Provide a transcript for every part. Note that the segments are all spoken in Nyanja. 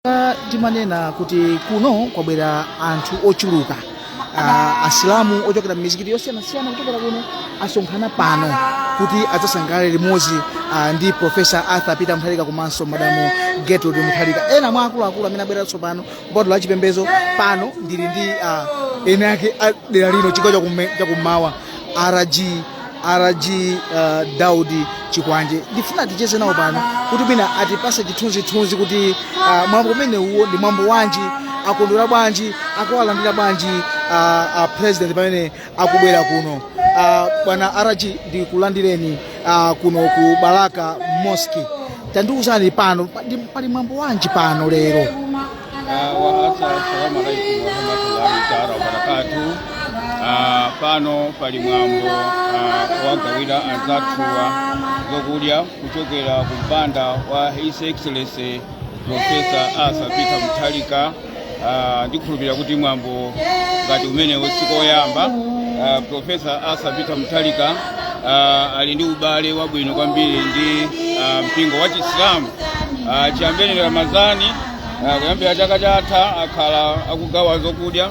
Ah, timanena kuti kuno kwabwera anthu ochuluka Ah, asilamu ochokera m'mizikiti yosiyanasiyana kuchokera kuno asonkhana pano kuti adzasangalale limodzi ah, ndi profesa arthur peter mutharika komanso madamu gertrude mutharika ena mwa akuluakulu amene abwera tsopano bwalo la chipembedzo pano ndili ndi ah, ena ake a dera lino chigawo chakume- chakummawa rg rg uh, daudi chikwanje ndifuna ticheze nawo pano kuti mwina atipase chithunzithunzi kuti uh, mwambo umenewuwo ndi mwambo wanji akondwera bwanji akuwalandira bwanji uh, uh, president pamene akubwera kuno uh, bwana rg ndikulandireni uh, kuno ku balaka mosque tandiwuzani pano pa- ndi- pali mwambo wanji pano lero Assalamu alaikum warahmatullahi taala wabarakatu. Ah, pano pali mwambo ah, wogawira anzathuwa zokudya kuchokera ku mpanda wa His Excellency Professor Arthur Peter Mutharika. Ah, ndikhulupirira kuti mwambo ngati umenewo sikoyamba. Ah, Professor Arthur Peter Mutharika ah, ali ndi ubale wabwino kwambiri ndi ah, mpingo wa Chisilamu ah, chiyambire Ramadhani Ah, kuyambira chaka chatha akhala akugawa zokudya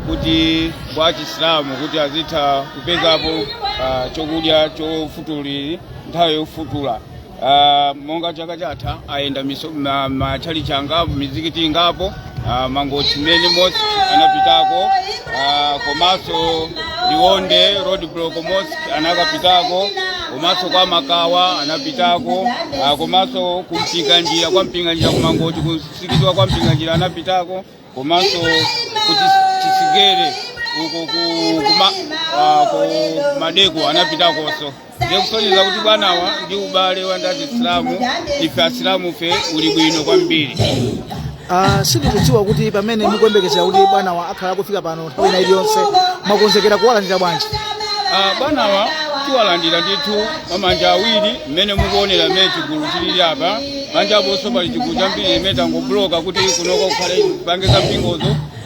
kuti kwa achisilamu kuti azitha kupezapo ah, chokudya chofutulira nthawi yofutula Ah, monga chaka chatha ayenda miso- ma- matchalitchi angapo mizikiti ingapo ah, mangochi main mosque anapitako ah, komanso liwonde road block mosque anakapitako komanso kwa makawa anapitako ah, komanso ku mpinganjira kwa mpinganjira ku mangochi ku mzikiti wa kwa mpinganjira anapitako komanso ku Chis- chisigere uko ku- ku ma- ah, ku maldeco anapitakonso ndiye kusonyeza kuti bwanawa ndi ubale wa ndi asilamu ife asilamufe uli bwino kwambiri Uh, sindikudziwa kuti pamene mukuyembekezera kuti bwanawa akhala akufika pano nthawi ina iliyonse mwakonzekera kuwalandira bwanji Ah, bwanawa tiwalandira ndithu mwa manja awiri mmene mukuonera mmene chigulu chilili apa panja aponso pali chigulu chambiri imene tangobuloka kuti kunoko kukhale kupange za mpingozo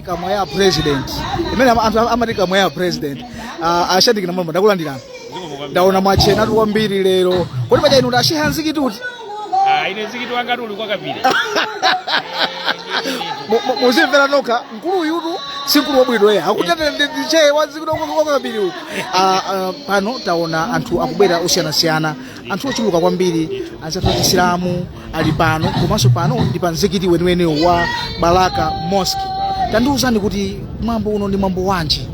kamwa ya president imene am- am- amati kamwa ya president uh, a shadric namalomba ndakulandirani ndaona mwachenatu kwambiri lero kodi paja inu ndi a shehe a mzikiti kuti Ah, ine mzikiti wangatu uli kwa kapire Mu- mu- muzimvera nokha mkulu uyutu si mkulu wabwino eya akutitu ndi shehe wa mzikiti wa kapire uku Ah, ah, pano taona anthu akubwera osiyanasiyana anthu ochuluka kwambiri anzathu achisilamu ali pano komanso pano ndi pa mzikiti weniweni wa balaka mosque tandiwuzani kuti mwambo uno ndi mwambo wanji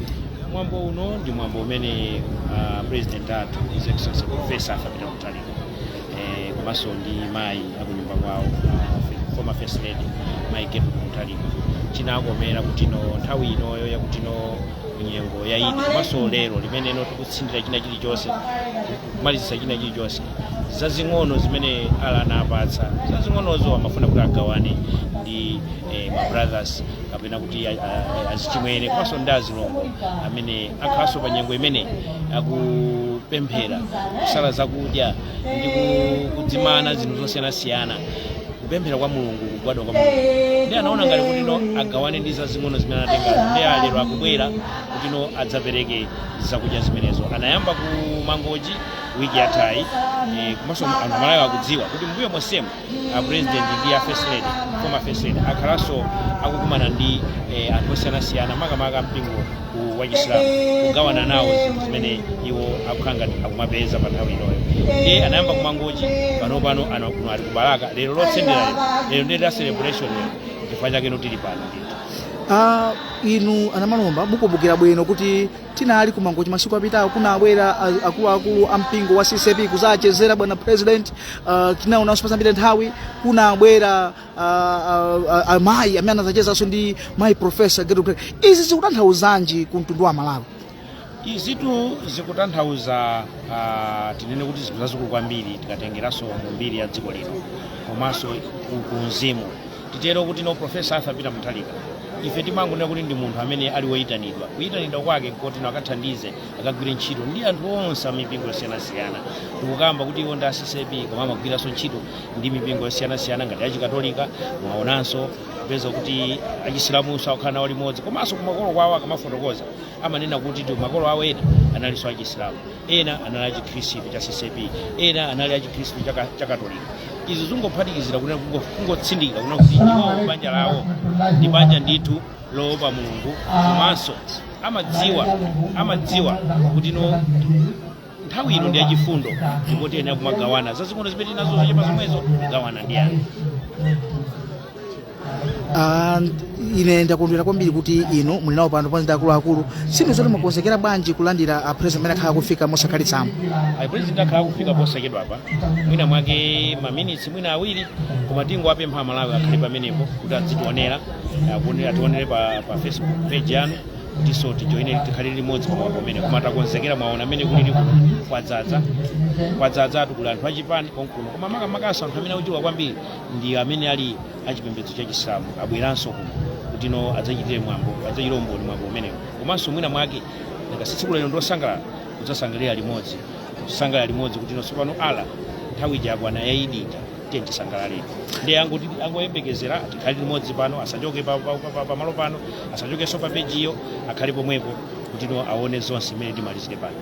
mwambo uno ndi mwambo umene uh, president athu his excellency professor arthur peter mutharika eh, komanso ndi mayi akunyumba kwawo uh, former first lady mayi gertrude mutharika chinakomera kuti no nthawi inoyo yakuti no nyengo ya idi komanso lero limene no tikutsindira china chilichonse kumalizitsa china chilichonse zazing'ono zimene ala anapatsa zazing'onozo amafuna kuti agawane ndi eh, ma brothers kapena kuti a- a- azichimwene komanso ndi azilongo amene akhalanso pa nyengo imene akupemphera kusala zakudya ndi ku- kudzimana zinthu zosiyanasiyana kupemphera kwa mulungu kugwadwa kwa mulungu ndiye anaona ngati kuti no agawane ndi zazing'ono zimene anatenga ndiye lero akubwera kuti no adzapereke zakudya zimenezo anayamba ku mangochi wiki yathayi eh, komanso anthu a malawi akudziwa kuti mbuyo monsemu a president ndi a first lady former first lady akhalanso akukumana ndi eh, anthu osiyanasiyana makamaka mpingo ku- wa chisilamu kugawana nawo zinthu zimene iwo akukhala ngati akumapeza pa nthawi inoyo ndiye anayamba ku mangochi pano pano ano kuno ali ku balaka lero lotsendera lero lero ndi la celebration lero chifukwa chake no tili pano ndithu Ah, inu anamalomba mukumbukira bwino kuti tinali ku mangochi masiku apitawo kunabwera a- akuluakulu a mpingo wa ccap kuzachezera bwana president uh, tinaonanso patapita nthawi kunabwera uh, uh, amayi amene anazachezanso ndi mayi profesa gertrude mutharika. izi zikutanthauzanji ku mtundu wa malawi izitu zikutanthauza uh, tinene kuti zinthu zazikulu kwambiri tikatengeranso mu mbiri ya dziko lino komanso ku- ku mzimu titero kuti no profesa arthur peter mutharika ife timangonena kuti ndi munthu amene ali woyitanidwa kuyitanidwa kwake kuti no akathandize akagwire ntchito ndi anthu onse amipingo yosiyanasiyana tikukamba kuti iwo ndi a ccap koma amagwiranso ntchito ndi mipingo yosiyanasiyana ngati achikatolika mwaonanso kupeza kuti achisilamunso akukhala nawo limodzi komanso kumakolo kwawo akamafotokoza amanena kuti makolo awo ena analinso achisilamu ena anali achikhristu cha ccap ena anali achikhristu cha ka- cha katolika izi zingophatikizira kunena kungo- kungotsindika kunena kuti iwowo banja lawo ndi banja ndithu loopa mulungu komanso amadziwa amadziwa kuti no nthawi ino ndi yachifundo ndipo tiyenera kumagawana zazing'ono zimene tili nazo zochepa zomwezo kugawana ndi anthu Ah, ine ndakondwera kwambiri kuti inu muli nawo pano pamodzi ndi akuluakulu sinu zoti mwakonzekera bwanji kulandira a president amene akhala akufika posakhalitsapa a president akhala akufika posachedwa apa mwina mwake maminitsi mwina awiri koma tingowapempha amalawi akhale pamenepo kuti adzitionera akuone- ationere pa, pa facebook page yanu tinso tijoine tikhale limodzi pamwambo umene koma takonzekera mwaona mmene kulili kuno kwadzadza kwadzadza tu kuli anthu achipani konkuno koma makamakanso anthu amene akuchuluka kwambiri ndi amene ali achipembedzo cha chisilamu abweranso kuno kuti no adzachitire mwambo adzachitire umboni mwambo umenewo komanso mwina mwake ndinga tsiku lero ndiosangalala kudzasangalira limodzi kusangalalira limodzi kuti no tsopano ala nthawi ija yakwana ya idi ija tiye tisangalalire ndiye angoti angoyembekezera tikhale limodzi pano asachoke pa- pa- pa- pa- pamalo pano asachokenso pa pejiyo akhale pomwepo kuti no aone zonse mmene timalizire pano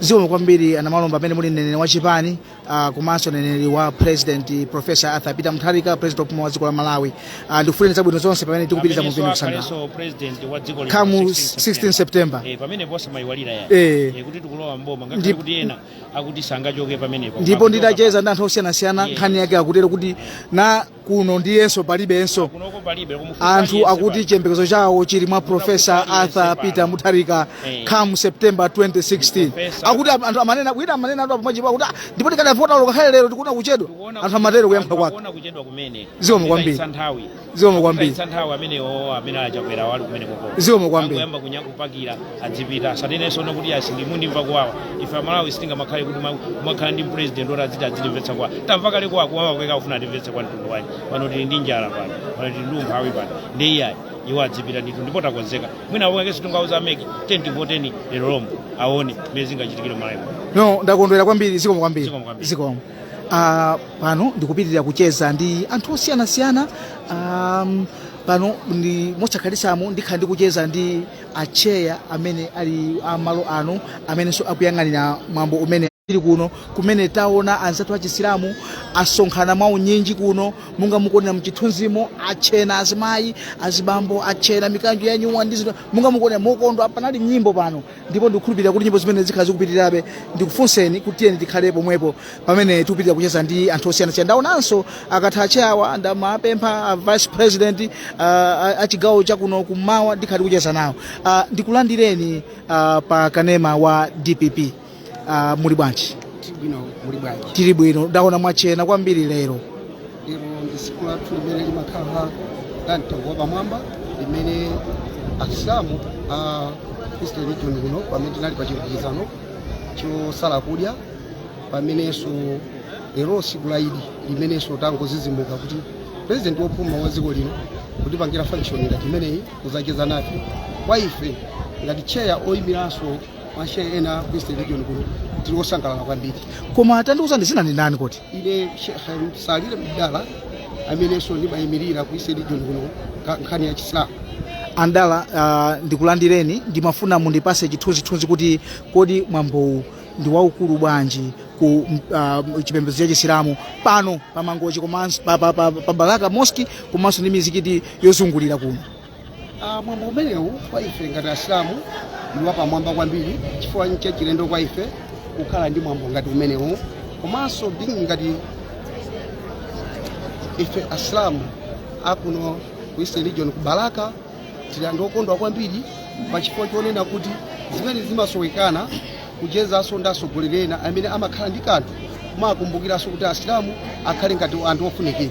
zikomo kwambiri anamalomba amene muli mneneri wa chipani uh, komanso mneneri wa president professor arthur peter mutharika president opuma wa dziko la malawi uh, ndikufuneni zabwino zonse pamene tikupitiriza mu mpindu kusangala Amenenso president wa dziko lino come 16 16 september Eh, pamene posa mayiwalira ya Eh. Eh, kuti tikulowa mboma ngakhale Ndi- kuti ena akuti sangachoke pamenepo ndipo nditacheza ndi anthu osiyanasiyana Yeah. nkhani yake akutero kuti na kuno ndiyenso palibenso kunoko palibe kumufunsa anthu aliyense akuti pali. chiyembekezo chawo chili mwa profesa Aliyense arthur pano. peter mutharika Eh. come september 2016 Professor. akuti am- anthu amanena wina amanena atu apa mwachitipo akuti "Ah, ndipo tikadavota lokakhale lero tikuona kuchedwa Tikuona anthu amatero kuyankhula kwake Tikuona kuchedwa kumene Zikomo kwambiri. Zikaitsa nthawi zikomo kwambiri Zikaitsa nthawi amenewo amene achakwera wali kumene koko Zikomo kwambiri. Angoyamba kunyamu kupakira adzipita asanenenso no kuti asi ndimu ndimva kuwawa ife amalawi sitinga makhale kuti ma- makhala ndi president oti adziti adzitimvetsa kuwawa tamva kale kwa kuwawa kweka kufuna atimvetse kuwawa mtundu wanji pano tili ndi njala pano pano tili ndi umphawi pano ndi iyayi iwo adzipita ndithu ndipo takonzeka mwina awokekenso tingauza a mec kuti tivoteni lero lomwe aone mmene zingachitikire malawi no ndakondwera kwambiri zikomo kwambiri Zikomo kwambiri. zikomo Ah, pano ndikupitirira kucheza ndi anthu osiyanasiyana um, pano ndi posakhalitsamu ndikhala ndikucheza ndi atcheya amene ali amalo ano amenenso akuyang'anira mwambo umene tili kuno kumene taona anzathu achisilamu asonkhana mwa unyinji kuno monga mukuonera mchithunzimo atchena azimayi azibambo atchena mikanjo ya nyuwa ndi zinthu monga mukuonera mokondwa panali nyimbo pano ndipo ndikukhulupirira kuti nyimbo zimene zikhala zikupitirirabe ndikufunseni kuti tiyeni tikhale pomwepo pamene tikupitirira kucheza ndi anthu osiyanasiyana ndaonanso akatha atcheyawa ndimawapempha a vice president uh, achigawo chakuno kummawa ndikhale kucheza nawo uh, ndikulandireni uh, pa kanema wa dpp uh, muli bwanji tili bwino muli bwanji tili bwino ndaona mwatchena kwambiri lero lero ndi tsiku lathu limene limakhala la mtengo wapamwamba limene asilamu a eastern region kuno pamene tinali pa chilumikizano chosala kudya pamenenso lero tsiku la idi limenenso tangodzidzimuka kuti purezidenti wopuma wa dziko lino kutipangira function ngati imeneyi kuzacheza nafe kwa ife ngati tcheya oyimiranso mashehe ena ku eastern region kuno tili osangalala kwambiri koma tandiuzani dzina ndi ndani kodi ine shekhe salile mdala amenenso ndimayimirira ku eastern region kuno ka- nkhani ya chisilamu a Mdala uh, ndikulandireni ndimafuna mundipase chithunzithunzi kuti kodi mwambowu ndi waukulu bwanji ku uh, chipembedzo cha chisilamu pano pa Mangochi komanso pa, pa, pa, pa balaka moski komanso ndi mizikiti yozungulira kuno Ah, mwambo umenewu kwa ife ngati asilamu ndi wapamwamba kwambiri chifukwa ncha chilendo kwa ife kukhala ndi mwambo ngati umenewu komanso ndi ngati ife asilamu akuno ku eastern region ku balaka tili anthu okondwa kwambiri pa chifukwa chonena kuti zimene zimasowekana kuchezanso ndi atsogoleri ena amene amakhala ndi kanthu kumakumbukiranso kuti asilamu akhale ngati anthu ofunikira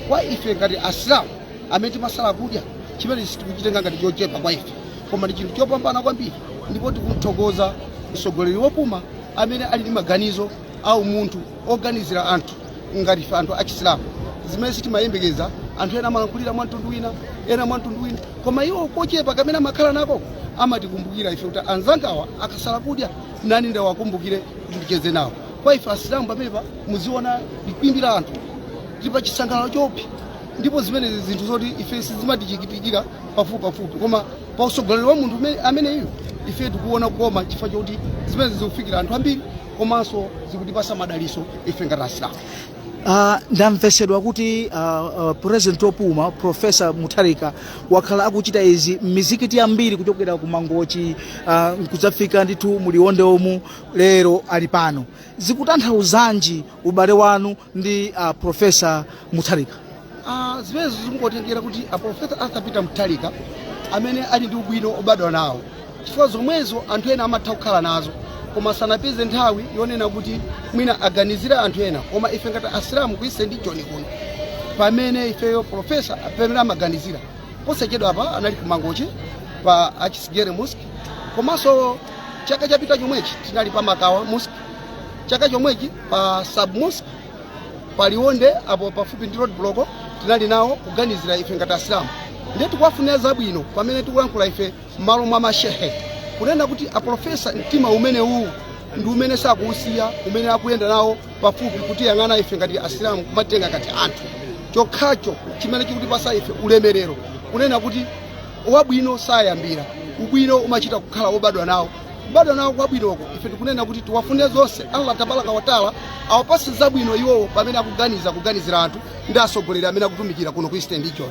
kwa ife ngati asilamu amene timasala kudya chimene sitikuchitenga ngati chochepa kwa ife koma ndi chinthu chopambana kwambiri ndipo tikumthokoza mtsogoleri wopuma amene ali ndi maganizo a umunthu oganizira anthu ngati ife anthu achisilamu zimene sitimayembekeza anthu ena amalankhulira mwa mtundu wina ena mwa mtundu wina koma iwo kochepa kamene amakhala nako amatikumbukira ife kuti anzangawa akasala kudya nane ndiwakumbukire kuti ndicheze nawo kwa ife asilamu pamenepa mukuona chikwimbi la anthu tili pa chisangalalo chopsa ndipo zimenezi zinthu zoti ife sizimatichitikira pafupipafupi koma pa utsogoleri wa munthu ume- ameneyu ife tikuona kukoma chifukwa choti zimenezi zikufikira anthu ambiri komanso zikutipasa madaliso ife ngati asilamu Uh, ndamvesedwa kuti uh, uh, president opuma profesa mutharika wakhala akuchita izi m'mizikiti yambiri kuchokera ku mangochi uh, kudzafika ndithu mu Liwonde umu lero ali pano zikutanthauzanji ubale wanu ndi uh, profesa mutharika Ah, zimenezo zikungotengera kuti aprofesa arthur peter mutharika amene ali ndi ubwino obadwa nawo chifukwa zomwezo anthu ena amatha kukhala nazo koma sanapeze nthawi yonena kuti mwina aganizire anthu ena koma ife ngati asilamu ku eastern region kuno pamene ifeyo profesa pamene amaganizira posachedwa apa anali ku Mangochi pa achisigere mosque komanso chaka chapita chomwechi tinali pa makawa mosque chaka chomwechi pa sub mosque pa liwonde apo pafupi ndi road block tinali nawo kuganizira ife ngati asilamu ndiye tikuwafunira zabwino pamene tikulankhula ife m'malo mwa mashehe kunena kuti aprofesa mtima umene uwu ndi umene sakuusiya umene akuyenda nawo pafupi kutiyang'ana ife ngati asilamu kumatitenga ngati anthu chokhacho chimene chikutipasa ife ulemerero kunena kuti wabwino sayambira ubwino umachita kukhala wobadwa nawo kubadwa nawo kwabwinoko ife tikunena kuti tiwafunire zonse allah tabaraka wataala awapase zabwino iwowo pamene akuganiza kuganizira anthu ndi atsogoleri amene akutumikira kuno ku eastern region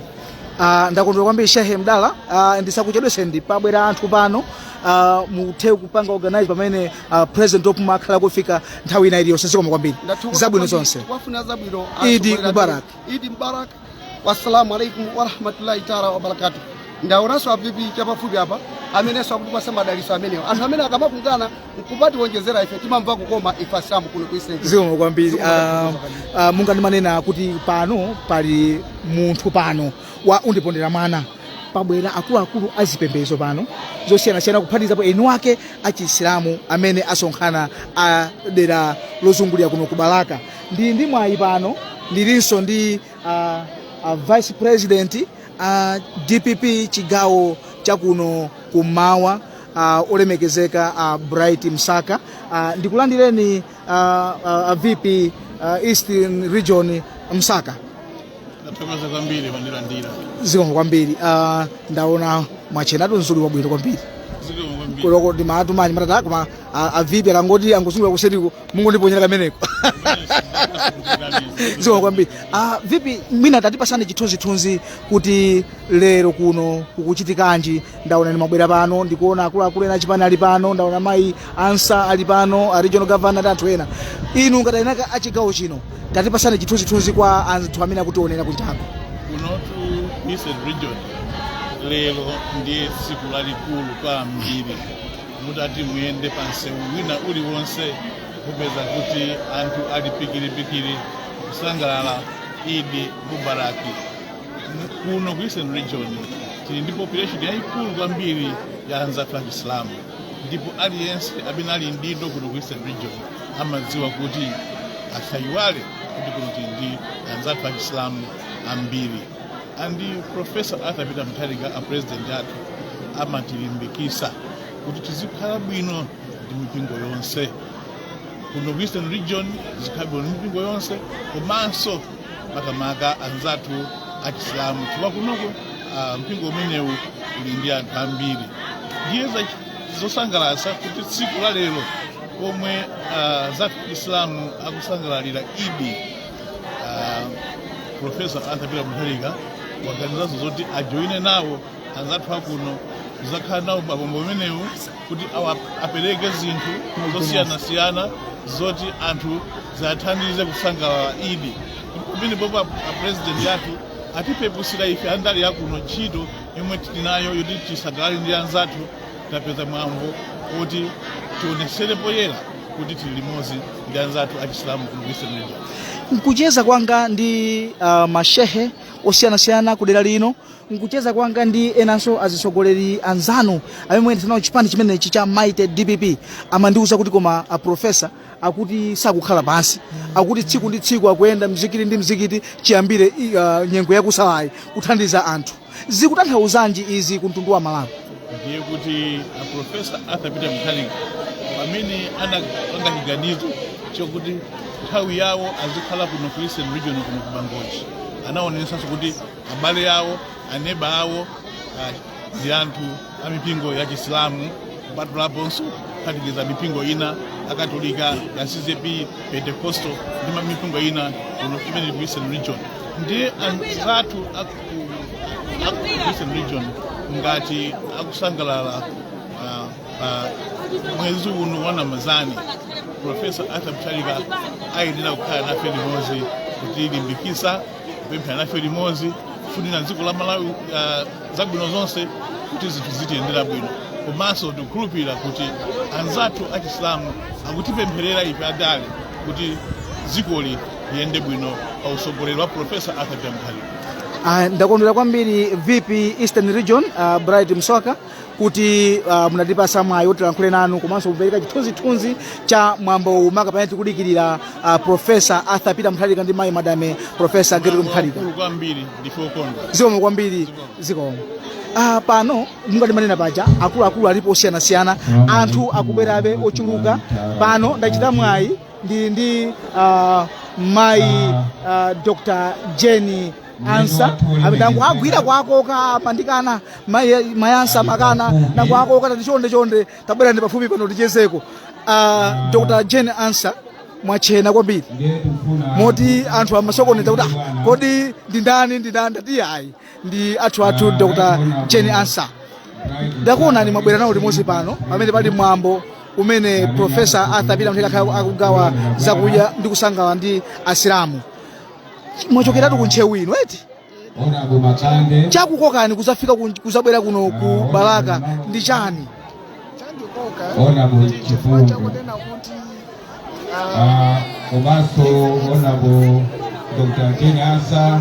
Ah, ndakondwera kwambiri shehe mdala ah, ndisakuchedweseni pabwera anthu pano ah, muthe kupanga organize pamene ah, president opuma akhale akufika nthawi ina iliyonse zikomo kwambiri Ndathokoza zabwino kwambiri. zonse Tiwafuna zabwino Idi atsogoleri athu. Mubarak. idi mubarak wassalamu alaikum warahmatullahi taala wabarakatu ndaonanso a vp chapafupi apa amenenso akutipasa madaliso amenewo anthu amene akamakungana nkumatiwonjezera ife timamva kukoma ife asilamu kuno ku eastern region. zikomo kwambiri Ah, ah, monga ndimanena kuti pano pali munthu pano wa mundipondera mwana pabwera akuluakulu a zipembedzo pano zosiyanasiyana kuphatizapo eni wake achisilamu amene asonkhana a dera lozungulira kuno ku balaka Ndili ndi mwayi pano ndilinso ndi uh, uh, vice president uh, dpp chigawo chakuno kummawa uh, olemekezeka uh, bright msaka uh, ndikulandireni uh, uh, uh, vp uh, eastern region msaka Ndathokoza kwambiri mwandilandira. zikomo kwambiri uh, ndaona mwachenatu mzuli wabwino kwambiri Zikomo kwambiri. kuloko ndi maatumani matata koma uh, a vp akangoti angozungula kuseriko mungondiponyera kameneko zikomo kwambiri ah, vp mwina tatipasani chithunzithunzi kuti lero kuno kukuchitikanji ndaona ndimabwera pano ndikuona akuluakulu ena achipani ali pano ndaona mayi ansa ali pano a regional governor ndi anthu ena inu ngati eni ake achigawo chino tatipasani chithunzithunzi kwa anthu amene akutionera kunjako kunotu eastern region lero ndiye tsiku lalikulu kwambiri mutati muyende pa msewu wina uliwonse mupeza kuti anthu ali pikiripikiri kusangalala idi mubaraki kuno ku eastern region tili ndi population yayikulu kwambiri ya anzathu achisilamu ndipo aliyense amene ali mdindo kuno ku eastern region amadziwa kuti asayiwale kuti kuno tili ndi anzathu achisilamu ambiri and professor arthur peter mutharika a president athu amatilimbikisa kuti tizikhala bwino ndi mipingo yonse kuno ku eastern region tizikhala bwino ndi mipingo yonse komanso makamaka anzathu achisilamu chifukwa kunoko ah, mpingo umenewu uli ndi anthu ambiri ndiye za- zosangalatsa kuti tsiku la lero pomwe ah, anzathu achisilamu akusangalalira idi profesa arthur peter mutharika waganizanso zoti ajoine nawo anzathu akuno kuzakhala nawo pamwambo umenewu kuti awa- apereke zinthu zosiyanasiyana zoti anthu ziwathandize kusangalala idi pamenepopo apresidenti athu atipepusira ife andale akuno ntchito yomwe tili nayo yoti tisangalale ndi anzathu tapeza mwambo kuti tionesere poyera kuti tili limodzi ndi anzathu achisilamu ku Eastern region. nkucheza kwanga ndi uh, mashehe osiyanasiyana ku dera lino nkucheza kwanga ndi enanso azitsogoleri anzanu amene muyendetsa nawo chipani chimenechi cha mighty dpp amandiwuza kuti koma aprofesa akuti sakukhala pansi akuti tsiku ndi tsiku akuyenda mzikiti ndi mzikiti chiyambire uh, nyengo yakusalayi kuthandiza anthu zikutanthauzanji izi ku mtundu wa malawi ndiye kuti a profesa arthur peter mutharika pamene anapanga chiganizo chokuti nthawi yawo azikhala kuno ku eastern region kuno ku mangochi anaonesanso kuti abale awo aneba awo ah, ndi anthu a mipingo ya chisilamu kupatulaponso kuphatikiza mipingo ina akatolika a ccap pentecostal ndi ma- mipingo ina kuno kumene ku eastern region ndiye anzathu a eastern region ngati akusangalala ah, ah, mwezi uno wa ramazani profesa arthur mutharika ayenera kukhala nafe limodzi kutilimbikitsa kupemphera nafe limodzi kufunira dziko la malawi ah, zabwino zonse kuti zinthu zitiyendera bwino komanso tikukhulupirira kuti anzathu achisilamu akutipempherera ife andale kuti dzikoli yende bwino pa usogoleri wa profesa arthur peter mutharika Uh, ndakondwera kwambiri vp eastern region uh, bright msaka kuti uh, munatipasa mwayi woti tilankhule nanu komanso kupereka chithunzithunzi cha mwambowu maka pamene tikudikirira uh, profesa arthur peter mutharika ndi mayi madame profesa gertrude mutharika Zikomo kwambiri ndife okondwa zikomo kwambiri zikomo Ah, pano monga ndimanena paja akuluakulu alipo osiyanasiyana anthu akubwerabe ochuluka pano ndachita mwayi ndili ndi uh, mayi uh, dr jane ansah amene ndangowagwira kuwakoka amandikana mayi mayi ansah amakana ndangowakoka ndati chonde chonde tabwerani pafupi pano tichezeko uh, dr jane ansah mwatchena kwambiri moti anthu amasokoneza kuti "Ah, kodi ndi ndani ndi ndani ndati ayi ndi athu athu dr jane ansah ndakuonani mwabwera nawo limodzi pano pamene pali mwambo umene profesa arthur peter mutharika akhala akugawa zakudya ndi kusangalala ndi asilamu mwachokeratu ku ntcheu inu eti chakukokani kuzafika ku- kuzabwera kuno ku balaka ndi chani Ona mu chifungu. chakunena kuti Ah, komanso onabo dr jane ansah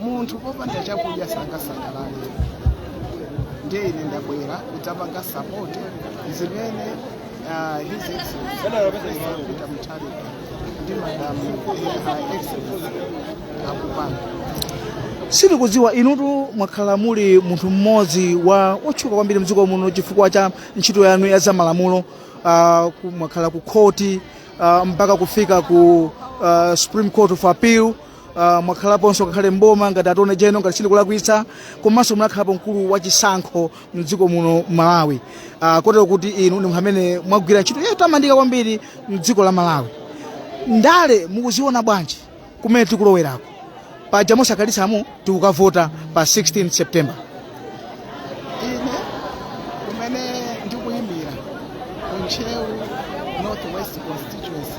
munthu popanda chakudya sangasangalale ndiye ine ndabwera kudzapanga sapoti zimene ah, his excellency peter mutharika ndi madamu ah, excellency akupanga tikudziwa inutu mwakhala muli munthu mmodzi wa wotchuka kwambiri mdziko muno chifukwa cha ntchito yanu ya zamalamulo uh, ku- mwakhala ku khoti uh, mpaka kufika ku uh, supreme court of appeal Uh, mwakhalaponso ngakhale mboma ngati attorney general ngati sindikulakwitsa komanso munakhalapo mkulu wa chisankho mdziko muno malawi uh, kotero kuti inu ndi munthu amene mwagwira ntchito yotamandika kwambiri mdziko la malawi ndale mukuziona bwanji kumene tikulowerako paja mosakhalitsamu tikukavota pa 16 september ine kumene ndikuyimira ku ntcheu northwest constituency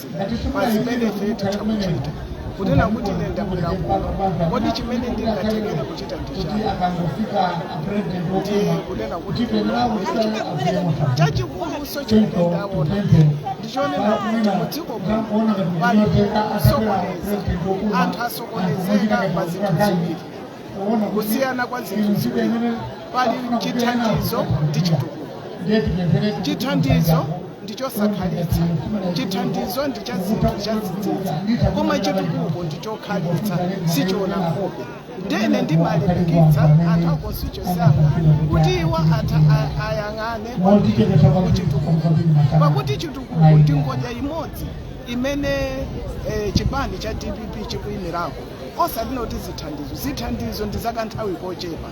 pazimene ife tikuchita kunena kuti ine ndabwera kuno kodi chimene ndingathekere kuchita ndichani ndi kunena kuti chachikuluso chimene ndaona ndichonena kuti mudziko muno pali kusokoneza anthu asokonezeka pa zinthu ziwiri kusiyana kwa zinthu ziwiri pali chithandizo ndi chitukuko chithandizo ndi chosakhalitsa chithandizo ndi cha zinthu chadzidzidzi koma chitukuko ndi chokhalitsa sichiona nkhope ndene ndimalimbikitsa anthu a constituency yanga kuti iwo atha a- ayang'ane kuchitukuko pakuti chitukuko ndi ngodya imodzi imene eh, chipani cha dpp chikuyimirako osati kuti zithandizo zithandizo ndi zakanthawi kochepa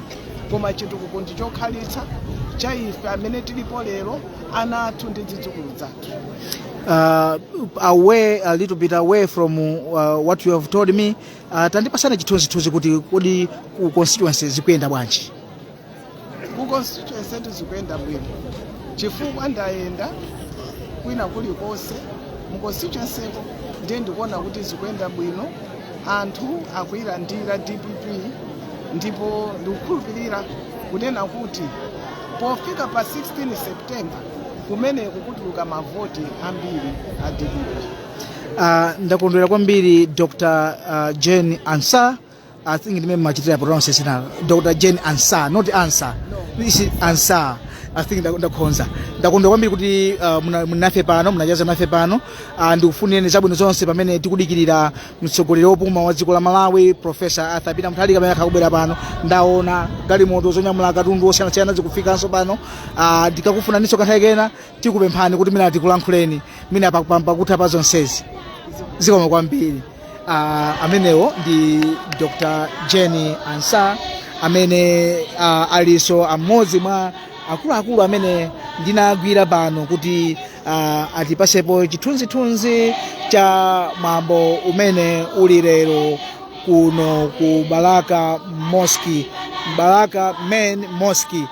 koma chitukuko ndi chokhalitsa cha ife amene tilipo lero ana athu ndi zidzukulu zathu uh, away a little bit away from uh, what you have told me uh, tandipatsani chithunzithunzi kuti kodi ku constituency zikuyenda bwanji ku constituency yathu zikuyenda bwino chifukwa ndayenda kwina kulikonse mu constituency ko ndiye ndikuona kuti zikuyenda bwino anthu akuyilandira dpp ndipo ndikukhulupirira kunena kuti pofika pa 16 september kumeneko kutuluka mavoti ambiri a dpp Uh, ndakondwera kwambiri Dr. Uh, Jane Ansah I think ndimene mmachitira pronounce zina Dr. Jane Ansah, not Ansah. This is Ansah. I think nda- ndakhonza. Ndakondwa kwambiri kuti uh, muna- munafe pano, munachaza nafe pano. Uh, ndikufunireni zabwino zonse pamene tikudikirira mtsogoleri wopuma wa dziko la Malawi, Professor Arthur Peter Mutharika amene akubwera pano. Ndaona galimoto zonyamula katundu wosiyanasiyana zikufikanso pano. Uh, ndikakufunaninso kanthawi kena tikupemphani kuti mwina tikulankhuleni. Mwina pakutha pa zonsezi. Zikomo kwambiri. Ah, amenewo ndi dr jane ansah amene ah, alinso amodzi mwa akuluakulu amene ndinagwira pano kuti ah, atipatsepo chithunzithunzi cha mwambo umene uli lero kuno ku balaka mosque balaka main mosque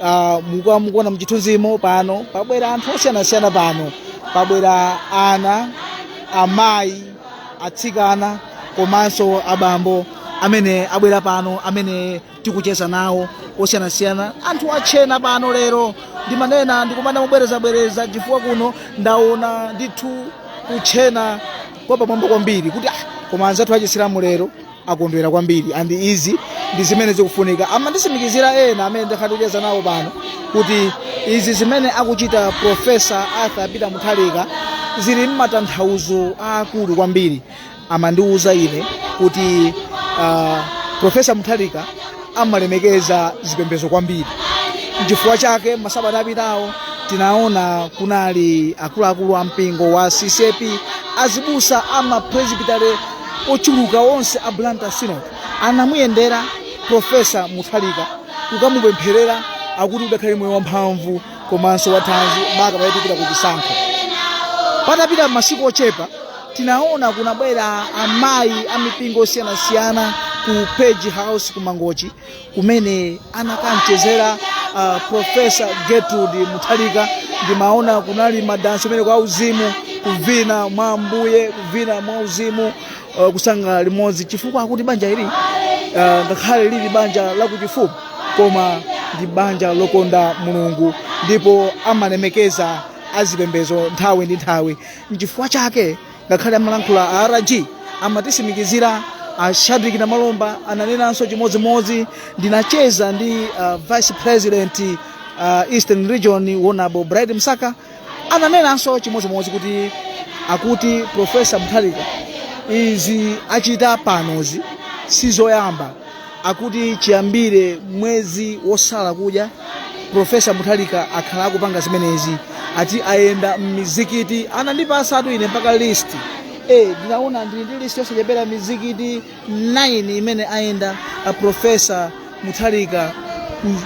Ah, muku mukuona mchithunzimo pano pabwera anthu osiyanasiyana pano pabwera ana amayi atsikana komanso abambo amene abwera pano amene tikucheza nawo osiyanasiyana anthu atchena pano lero ndimanena ndikumanena mobwerezabwereza chifukwa kuno ndaona ndithu kutchena kwa pamwamba kwambiri kuti ah, koma anzathu achisilamu lero akondwera kwambiri and izi ndi zimene zikufunika amanditsimikizira ena amene ndakhala ndikucheza nawo pano kuti izi zimene akuchita profesa arthur peter mutharika zili ndi matanthauzo aakulu kwambiri amandiwuza ine kuti uh, profesa mutharika amalemekeza zipembedzo kwambiri nchifukwa chake masabata apitawo tinaona kunali akuluakulu a mpingo wa ccap azibusa ama presbytery ochuluka onse a blantyre synod anamuyendera profesa mutharika kukamupempherera akuti adzakhale moyo wamphamvu komanso wathanzi maka pamene tikupita ku chisankho patapita masiku ochepa tinaona kunabwera amayi a mipingo osiyanasiyana ku page house ku mangochi kumene anakamchezera uh, profesa gertrude mutharika ndimaona kunali madansi amene a uzimu kuvina mwa ambuye kuvina mwa uzimu uh, kusangalala limodzi chifukwa akuti banja ili uh, ngakhale lili banja lakuchifumu koma ndi banja lokonda mulungu ndipo amalemekeza azipembedzo nthawi ndi nthawi Nchifukwa chake ngakhale amalankhula a RG amatitsimikizira a Shadric Namalomba ananenanso chimodzimodzi ndinacheza ndi uh, vice president uh, eastern region honourable bright msaka ananenanso chimodzimodzi kuti akuti profesa mutharika izi achita panozi sizoyamba akuti chiyambire mwezi wosala kudya profesa muthalika akhala akupanga zimenezi ati ayenda m'mizikiti anandipasatu ine mpaka list eh ndinaona ndili ndi list yosachepera mizikiti 9 imene ayenda a profesa muthalika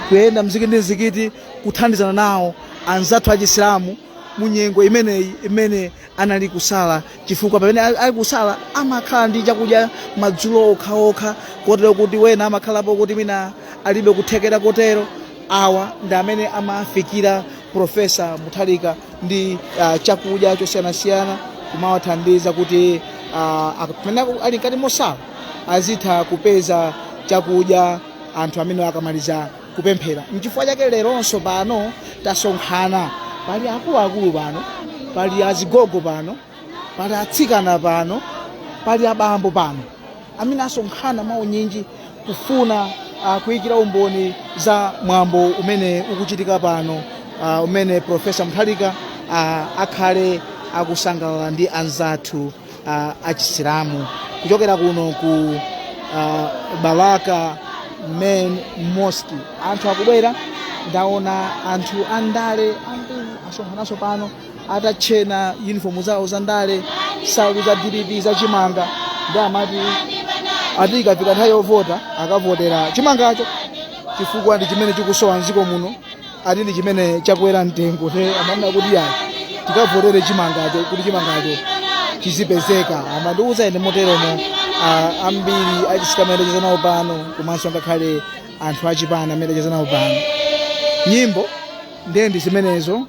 kuyenda mzikiti ndi mzikiti kuthandizana nawo anzathu achisilamu mu nyengo imeneyi imene anali kusala chifukwa pamene ali kusala amakhala ndi chakudya madzulo okhaokha kotero kuti wena amakhalapo kuti mwina alibe kuthekera kotero awa ndi amene amafikira profesa muthalika ndi uh, chakudya chosiyanasiyana kumawathandiza kuti uh, ak- pamene aku- ali mkati mosala azitha kupeza chakudya anthu amenewa akamaliza kupemphera nchifukwa chake leronso pano tasonkhana pali akuluakulu pano pali azigogo pano pali atsikana pano pali abambo pano amene asonkhana mwaunyinji kufuna uh, kuyikira umboni za mwambo umene ukuchitika pano uh, umene profesa muthalika uh, akhale akusangalala ndi anzathu uh, achisilamu kuchokera kuno ku uh, balaka main mosque anthu akubwera ndaona anthu andale ambiri asonkhananso pano atatchena uniform zawo za ndale salu za dpp za chimanga ndi amati ati ikafika nthawi yovota akavotera chimangacho chifukwa ndi chimene chikusowa mdziko muno ati ndi chimene chakwera mtengo nde amanena kuti yayi tikavotere chimangacho kuti chimangacho chizipezeka amandiuza ine moteromo ah, ambiri achisilamu amene ndacheza nawo pano komanso ngakhale anthu achipani amene ndacheza nawo pano nyimbo ndiye ndi zimenezo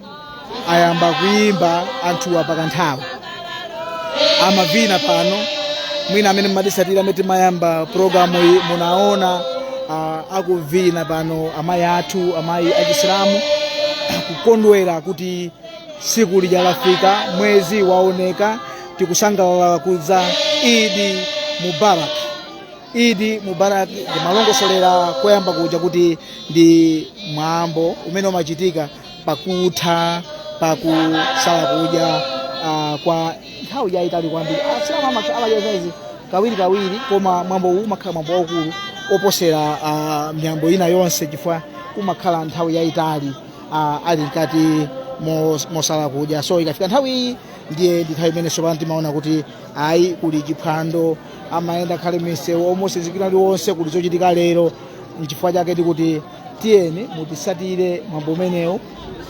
ayamba kuyimba anthuwa pakanthawi amavina pano mwina amene mmatisatira mmene timayamba programu iyi munaona uh, akuvina pano amayi athu amayi achisilamu kukondwera kuti tsiku lija lafika mwezi waoneka tikusangalala kudya idi mubarak idi mubarak ndimalongosolera koyamba kuja kuti ndi mwambo umene umachitika pakutha pakusala kudya ah, kwa nthawi yayitali kwambiri asilamu amakhala amadya idi kawiri kawiri koma mwambo uwu umakhala mwambo waukulu oposera ah, miyambo ina yonse chifukwa umakhala nthawi yayitali ah, ali mkati mos- mosala kudya so ikafika nthawi iyi ndiye ndi nthawi imene sopano timaona kuti ayi kuli chiphwando amayenda khale misewu omosizikira ndi onse kuli zochitika lero nchifukwa chake tikuti tiyeni mutisatire mwambo umenewu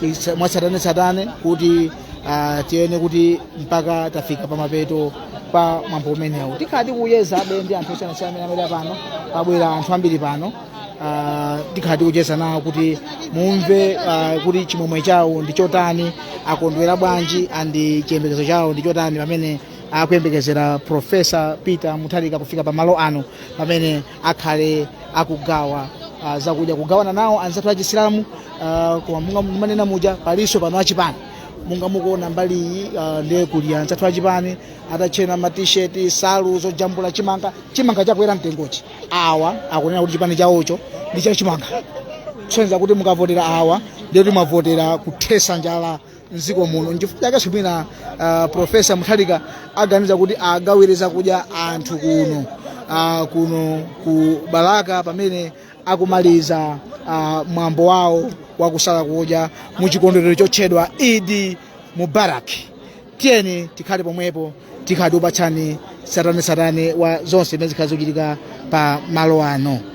isa- mwatsatanetsatane kuti ah, tiyene kuti mpaka tafika pamapeto pa mwambo umenewu tikhala tikuchezabe ndi anthu osiyanasiyana amene abwera pano pabwera anthu ambiri pano ah, tikhala tikucheza nawo kuti mumve ah, kuti chimwemwe chawo ndi chotani akondwera bwanji andi chiyembekezo chawo ndi chotani pamene akuyembekezera profesa peter mutharika kufika pamalo ano pamene akhale akugawa uh, zakudya kugawana nawo anzathu achisilamu uh, koma monga ndimanena muja palinso pano achipani monga mukuona mbali iyi uh, ndiye kuli anzathu achipani atatchena matisheti nsalu zojambula chimanga chimanga chakwera mtengochi awa akunena kuti chipani chawocho ndi chachimanga kusonyeza kuti mukavotera awa ndiye kuti mwavotera kuthesa njala mdziko muno nchifukwa chake mwina uh, profesa mutharika aganiza kuti agawire zakudya anthu kuno uh, kuno ku balaka pamene akumaliza uh, mwambo wawo wakusala kudya mu chikondwerero chotchedwa idi mubarak tiyeni tikhale pomwepo tikhala tikupatsani tsatanetsatane wa zonse zimene zikhala zikuchitika pa malo ano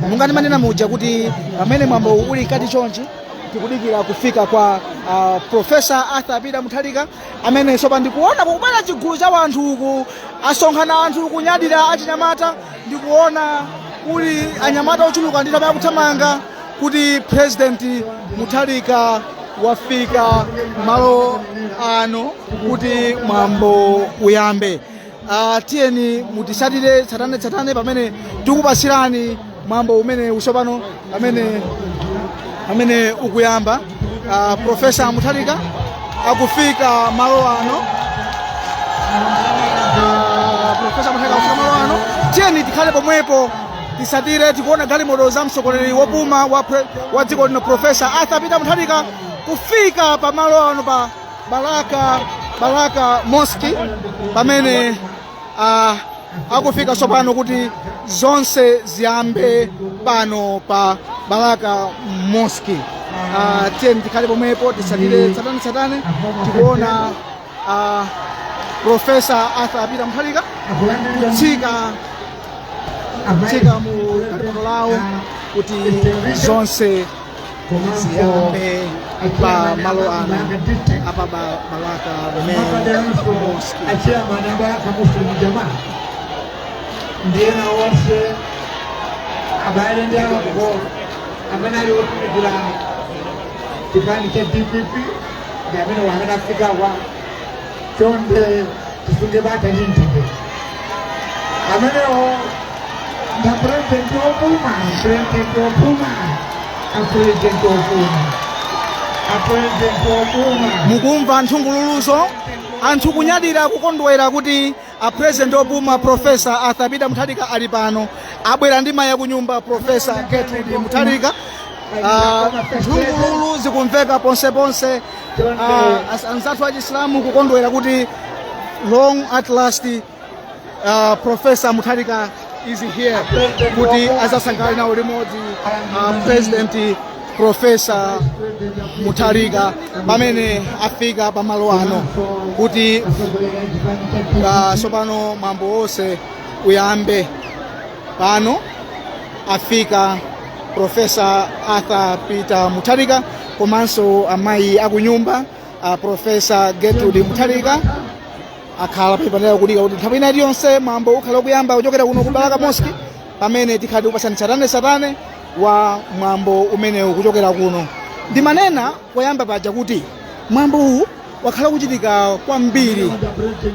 monga ndimanena muja kuti pamene mwambo uwu uli mkati chonchi tikudikira kufika kwa uh, profesa arthur peter mutharika amene sopano ndikuona kukubwera chigulu cha wanthu uku asonkhana anthu kunyadira achinyamata ndikuona kuli anyamata ochuluka ndithu amene akuthamanga kuti president mutharika wafika malo ano kuti mwambo uyambe Uh, tiyeni mutisatire tsatane tsatane pamene tikupasirani mwambo umenewu sopano pamene pamene ukuyamba uh, profesa mutharika akufika malo ano uh, profesa mutharika akufika malo ano tiyeni tikhale pomwepo tisatire tikuona galimoto za mtsogoleri wopuma wa, pre, wa dziko lino profesa arthur peter mutharika kufika pa malo ano pa Balaka Balaka Mosque pamene uh, akufika tsopano kuti zonse ziyambe pano pa Balaka Mosque. Uh, tiyeni tikhale pomwepo tisatire tsatane tsatane tikuona uh, Profesa Arthur Peter Mutharika kutsika kutsika mu galimoto lawo kuti zonse komanso ziyambe pa malo ano apa pa balaka mosque a chairman awa aka muslim jamaat ndiyeno onse abale ndi alongo amene ali otumikira chipani cha dpp ndi amene amene afikawa chonde tisunge bata ndi mtendere amenewo nda purezidenti opuma purezidenti opuma apurezidenti opuma apurezidenti opuma mukumva nthungululuzo anthu kunyadira kukondwera kuti a president opuma professor arthur peter mutharika ali pano abwera ndi mayi akunyumba professor gertrude mutharika Ah, nthungululu zikumveka ponseponse Ah, as- anzathu achisilamu kukondwera kuti long at last uh, profesa mutharika is here kuti adzasangalale nawo limodzi uh, president profesa mutharika pamene afika pamalo ano kuti uh, sopano mwambo wonse uyambe pano afika profesa arthur peter mutharika komanso amayi akunyumba uh, profesa gertrude mutharika akhala pompano kudikira kuti nthawi ina iliyonse mwambo ukhala ukuyamba kuchokera kuno ku balaka mosque pamene tikhala tikupatsani satane satane wa mwambo umenewu kuchokera kuno ndimanena koyamba paja kuti mwambo uwu wakhala kuchitika kwambiri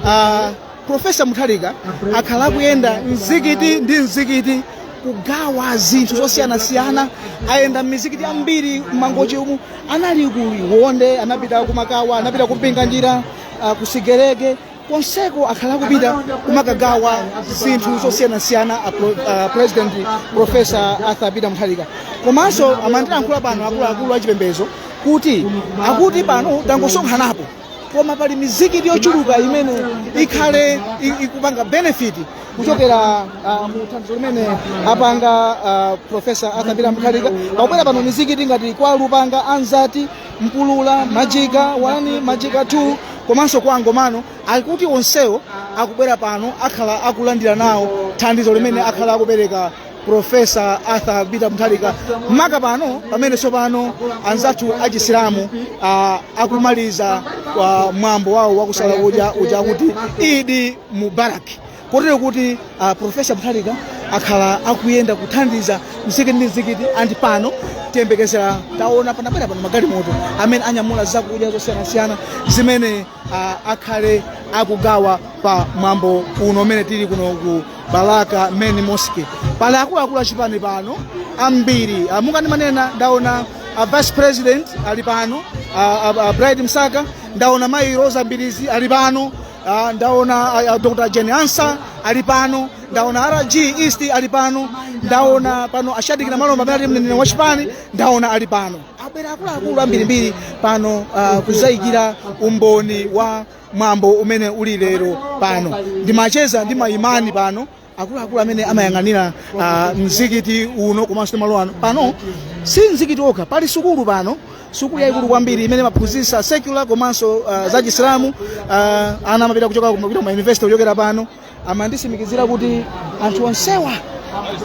uh, profesa mutharika akhala akuyenda mzikiti ndi mzikiti kugawa zinthu zosiyanasiyana ayenda m'mizikiti yambiri m'mangochi umu anali ku liwonde anapita kumakawa anapita kumpinganjira ah, ku sigerege konseko akhala akupita kumakagawa zinthu zosiyanasiyana a pro- a president profesa arthur peter mutharika komanso amandilankhula pano akuluakulu achipembedzo kuti akuti pano tangosonkhanapo koma pali mizikiti yochuluka imene ikhale i- ikupanga benefit kuchokera ah, mu thandizo limene apanga ah, profesa arthur peter mutharika pakubwera pano mizikiti ngati kwa lupanga anzati mpulula majika 1 majika 2 komanso kwa angomano akuti onsewo akubwera pano akhala akulandira nawo thandizo limene akhala akupereka profesa arthur peter mutharika maka pano pamene tsopano anzathu achisilamu ah, akumaliza ah, mwambo wawo wakusala kudya uja wakuti eid mubarak kotero kuti uh, profesa mutharika akhala akuyenda kuthandiza mzikiti ndi mzikiti and pano tiyembekezera taona panabwera pano magalimoto amene anyamula zakudya zosiyanasiyana zimene uh, akhale akugawa pa mwambo uno umene tili kuno ku balaka main mosque pali akuluakulu achipani pano ambiri uh, monga ndimanena ndaona uh, vice president ali pano uh, uh, uh, bright msaka ndaona mayi roza mbilizi ali pano Ah, ndaona ah, ah, Dr. Jane Ansah ali pano, ndaona RG East ali pano, ndaona pano a Shadric Namalomba amene ali mneneri wa chipani, ndaona ali pano. Abwera akuluakulu ambirimbiri pano ah, kuzaikira umboni wa mwambo umene uli lero pano. Ndimacheza ndi maimani pano akuluakulu amene amayang'anira ah, mzikiti uno komanso ndi malo ano pano si mzikiti okha pali sukulu pano sukulu yayikulu kwambiri imene imaphunzitsa secular komanso ah, za chisilamu ah, ana amapita kuchoka ku- kupita ku mayunivesiti kuchokera pano amandisimikizira kuti anthu onsewa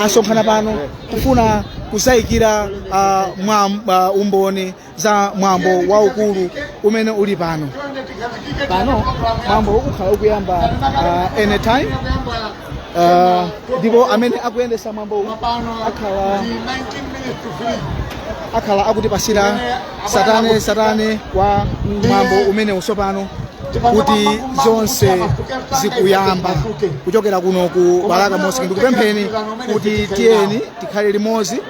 asonkhana pano kufuna kuzayikira ah, mwa ah, umboni za mwambo waukulu umene uli pano pano mwambo ukhala ukuyamba uh, anytime uh, ndipo amene akuyendesa mwambo uwu akhala akhala akutipasira satane satane wa mwambo umenewu tsopano kuti zonse zikuyamba kuchokera kuno ku balaka mosque ndikupempheni kuti tiyeni tikhale limodzi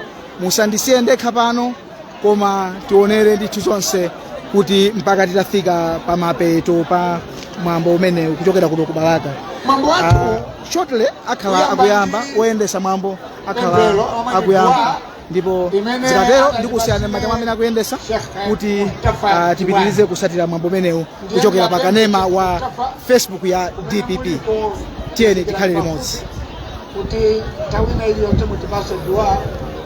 musandisiye ndekha pano koma tionere ndithu zonse kuti mpaka titafika pa mapeto pa mwambo umenewu kuchokera kuno ku balaka Ah, shortly akhala akuyamba oyendesa mwambo akhala akuyamba ndipo zikatero ndikusiyani m'manja mwa amene akuyendesa kuti ah, tipitirize kusatira mwambo umenewu kuchokera pa kanema wa facebook ya dpp tiyeni tikhale limodzi kuti nthawi ina iliyonse mutipase dua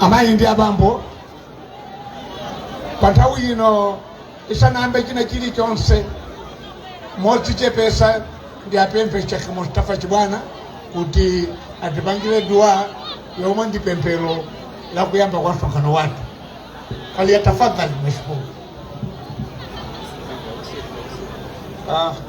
amayi ndi abambo pa nthawi ino isanayambe china chilichonse modzichepesa ndiwapemphe Sheikh Mustafa Chibwana kuti atipangire dua yomwe ndi pemphero la kuyamba kwa msonkhano wathu faliyatafadhali mashukuru Ah,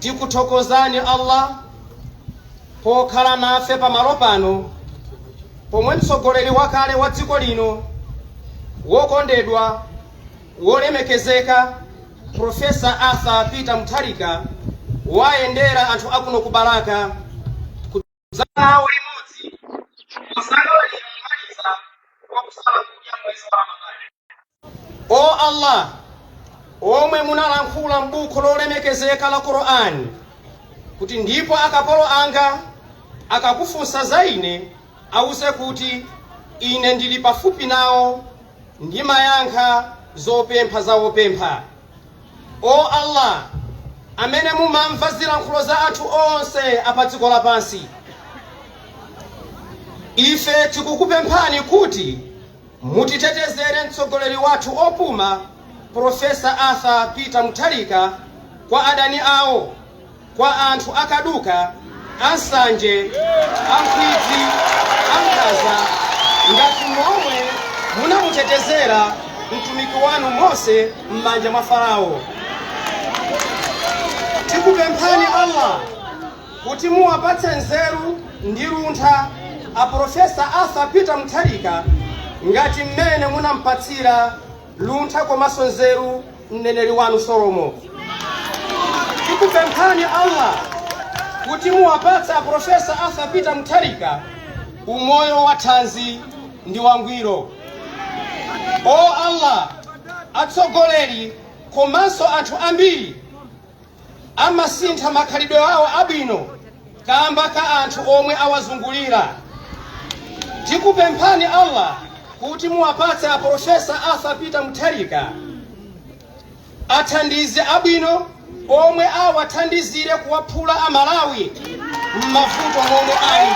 Tikuthokozani Allah pokhala nafe pamalo pano pomwe mtsogoleri wakale wa dziko lino wokondedwa, wolemekezeka Professor Arthur Peter Mutharika wayendera anthu akuno ku Balaka za nawo limodzi kusangala pomaliza kwa kusala kudya mwezi wa ramadhani o allah omwe munalankhula m'buku lolemekezeka la qur'ani kuti ndipo akapolo anga akakufunsa za ine awuse kuti ine ndili pafupi nawo ndimayankha zopempha za opempha O Allah, amene mumamva zilankhulo za anthu onse a pa dziko lapansi, ife tikukupemphani kuti mutitetezere mtsogoleri wathu opuma Profesa Arthur Peter Mutharika kwa adani awo Kwa anthu a kaduka, a nsanje, a nkhwidzi, a nkhaza, ngati momwe munamutetezera mtumiki wanu Mose m'manja mwa Farao, tikupemphani Allah kuti muwapatse nzeru ndi luntha a Profesa Arthur Peter Mutharika ngati mmene munampatsira luntha komanso nzeru mneneri wanu solomo tikupemphani allah kuti muwapatse aprofesa arthur peter mutharika umoyo wa thanzi ndi wangwiro o allah atsogoleri komanso anthu ambiri Amasintha makhalidwe awo abwino kamba ka anthu omwe awazungulira. Tikupemphani Allah kuti muwapatse a Profesa Arthur Peter Mutharika athandizi abwino omwe awathandizire kuwaphula a Malawi. m'mavuto momwe ali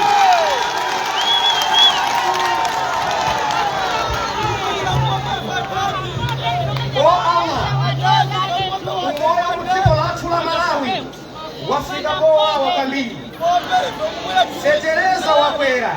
o allah umoyo m'dziko lathu la malawi wafika powawa kwambiri feteleza wakwera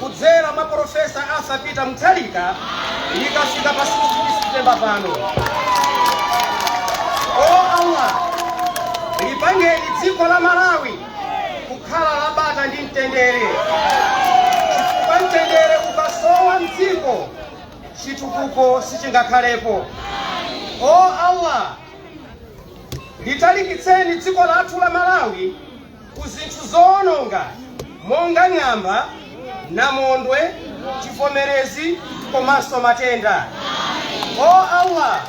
kudzera mwa Polofesa Arthur Peter Mutharika tikafika pa 16 September pano. O Allah, lipangeni dziko la Malawi kukhala la bata ndi mtendere, chifukwa mtendere ukasowa mdziko chitukuko sichingakhalepo. O Allah, litalikitseni dziko lathu la Malawi ku zinthu zowononga monga ng'amba, namondwe, chivomerezi komanso matenda. O Allah,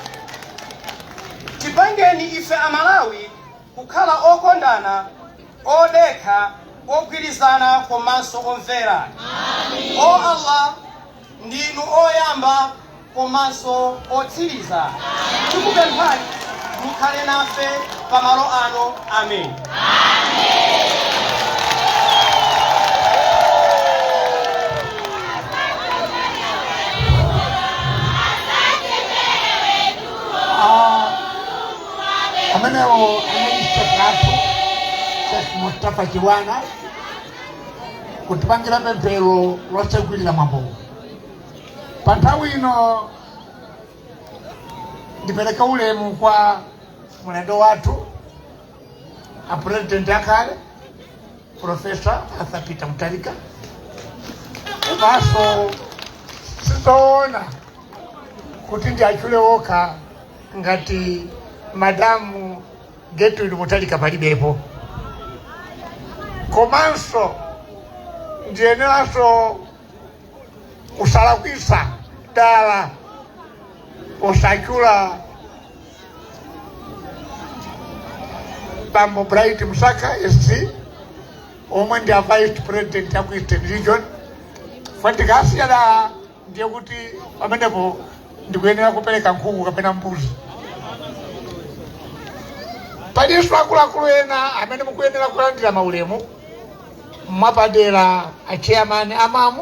tipangeni ife Amalawi kukhala okondana, odekha, ogwirizana komanso omvera. O Allah, Ndinu oyamba komanso otsiriza. Tikupemphani mukhale nafe pamalo ano. Amen. Ah, amenewo anali Sheikh athu Sheikh Mustafa Chibwana kutipangira pemphero lotsegulira mwambowu pa nthawi ino ndipereke ulemu kwa mlendo wathu a president akale profesa arthur peter mutharika komanso sizoona kuti ndiwatchule okha ngati madamu Gertrude Mutharika palibepo komanso ndiyeneranso kusalakwisa dala posatchula bambo bright msaka sc omwe ndi a vice president ya ku eastern region fandikasiya da ndiye kuti pamenepo ndikuyenera kupereka nkhuku kapena mbuzi palinso akuluakulu ena amene mukuyenera kulandira maulemu mwapadera a chairman a MAM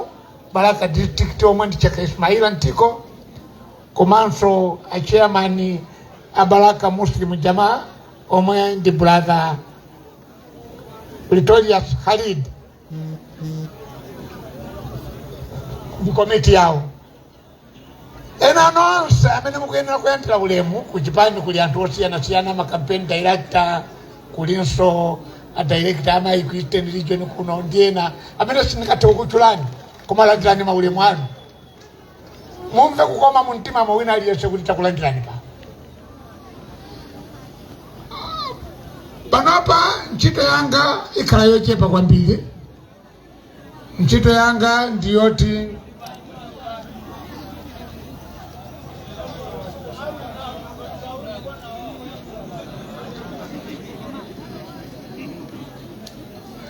balaka district omwe ndi Sheikh Ismaila ntiko komanso a chairman a balaka muslim jamaa omwe ndi brother pretorius khalid ndi komiti yawo ena nonse amene mukuyenera kulandira ulemu ku chipani kuli anthu osiyanasiyana ma campaign director kulinso a director a ku eastern region kuno ndi ena amene sindingathe kukutchulani koma landirani maulemu anu mumve kukoma mu mtima mwa wina aliyense kuti takulandirani pa panopa ntchito yanga ikhala yochepa kwambiri ntchito yanga ndi yoti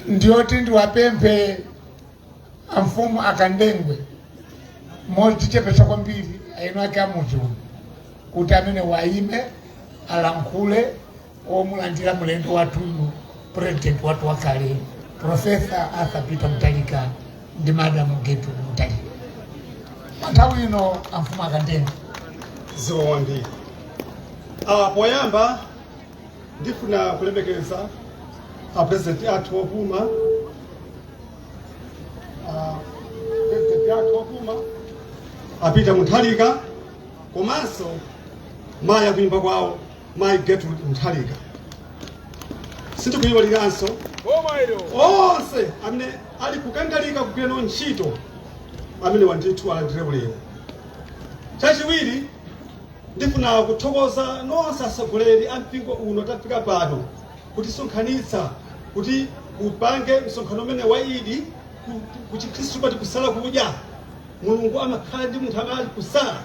ndiyoti ndiwapemphe amfumu akandengwe modzichepetsa kwambiri eni ake amudzi uno kuti amene wayime alankhule amulandire mlendo wathuyu president wathu wakale profesa arthur peter Mutharika ndi madamu Gertrude Mutharika panthawi ino amfumu akandengwe zikomo kwambiri awa poyamba ndifuna kulemekeza apurezidenti athu opuma, apurezidenti athu opuma a Peter Mutharika komanso mayi akunyumba kwawo mayi Gertrude Mutharika sindikuyiwalanso onse amene ali kukangalika kugwira nawo ntchito imeneyi ndithu alandire ulemu chachiwiri Ndifuna kuthokoza nonse atsogoleri a mpingo uno tafika pano kutisonkhanitsa kuti tipange msonkhano umene wa Eid ku- ku chikhristu timati kusala kudya mulungu amakhala ndi munthu amene ali kusala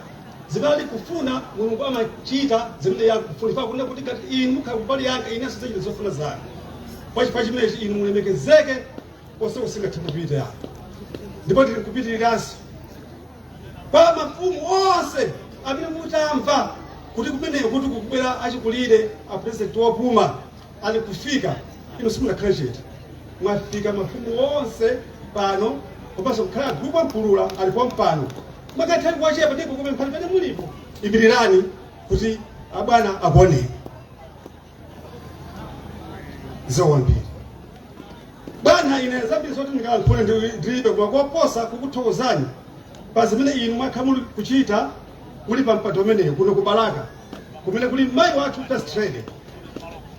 zimene ali kufuna mulungu amachita zimene akufuna kunena kuti ngati inu mukhala kumbali yanga inenso ndidzachita zofuna zanu pachifukwa chimenechi inu mulemekezeke konse kusingathe kupita ndipo tili kupitiriranso kwa mafumu onse amene mutamva kuti kumeneko kuti kukubwera achikulire a president wopuma ali kufika ino simunakhale chete mwafika mafumu onse pano komanso kukhala gulupu a Mpulula ali pompano mwakatha kuwachepa ndipo ndikupemphani pamene mulipo imirirani kuti abwana akuoneni zowambiri bwana ine zambiri zoti ndingalankhule ndi- ndilibe koma koposa kukuthokozani pa zimene inu mwakhala muli kuchita muli pa mpando umenewu kuno ku balaka kumene kuli mayi wathu first lady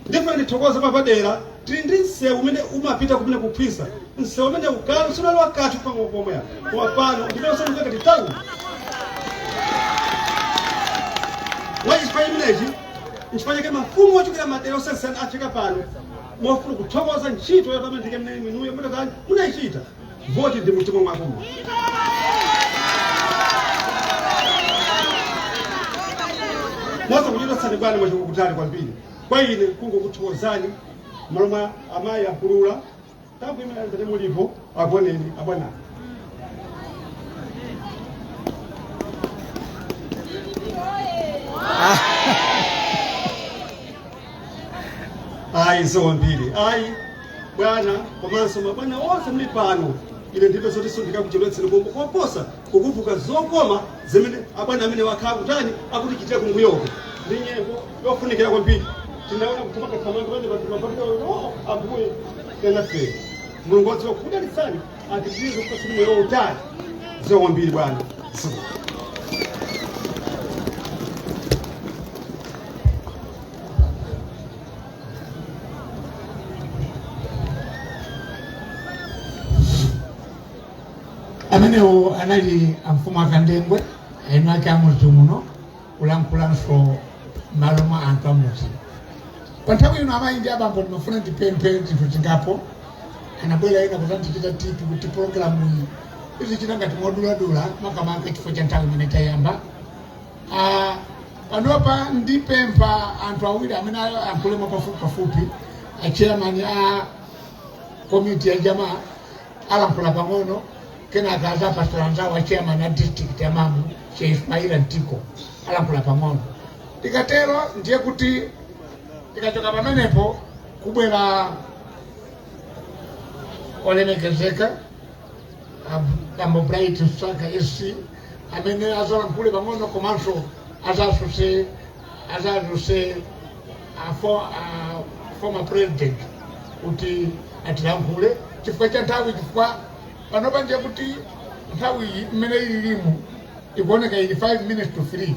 ndipo ndithokoza papadera tili ndi msewu umene umapita kumene ku Khwisa msewu umene kale sunali kanthu pang'ono pomwe apa. koma pano ndimene wasandulika ndi tauni pachifukwa chimenechi Nchifukwa chake mafumu ochokera madera osiyanasiyana afika pano mofuna kuthokoza ntchito yotamandika imene inuyo mudakali munayichita voti ndi mtima mwakumo moza kuchitotsani bwana mwachokera kutali kwambiri kwa ine kungokuthokozani mmalo mwa amayi a Mpulula Taimani pamene mulipo akuoneni abwana. Ayi zikomo kwambiri. Ayi bwana komanso mabwana onse muli pano. Ine ndilibe zoti sindika kuchedwetsera koma koposa kukumbuka zokoma zimene abwana amene akhala akutani akutichitira kumbuyoko ndi nyengo yofunikira kwambiri tinaona kutumakathamanga pamene patumapamika o ambuye yanafera mulungu wodziwa kudalitsa apitirize kukupatsani moyo wautali zikomo kwambiri bwana ziko amenewo anali amfumu akandengwe eni ake amudzi muno kulankhula m'malo mwa anthu amudzi pa nthawi ino amayi ndi abambo ndimafuna ndipemphe zinthu zingapo anabwera ena kuzandichita tipi kuti pologalamu iyi izichita ngati moduladula makamaka chifukwa cha nthawi imene tayamba Ah, panopa ndipempha anthu awiri amene ayankhulemo pafupi pafupi acheyamani a komiti ya jamaa alankhula pang'ono kenaka azapasira anzawo a chairman a district ya MAM che ismaila mtiko alankhula pang'ono tikatero ndiye kuti tikachoka pamenepo kubwera olemekezeka bambo bright msaka sc amene azalankhule pang'ono komanso azadzutse azadzutse a, for, a former president kuti atilankhule chifukwa cha nthawi chifukwa panopa ndiye kuti nthawi iyi imene ililimu ikuoneka ili 5 minutes to 3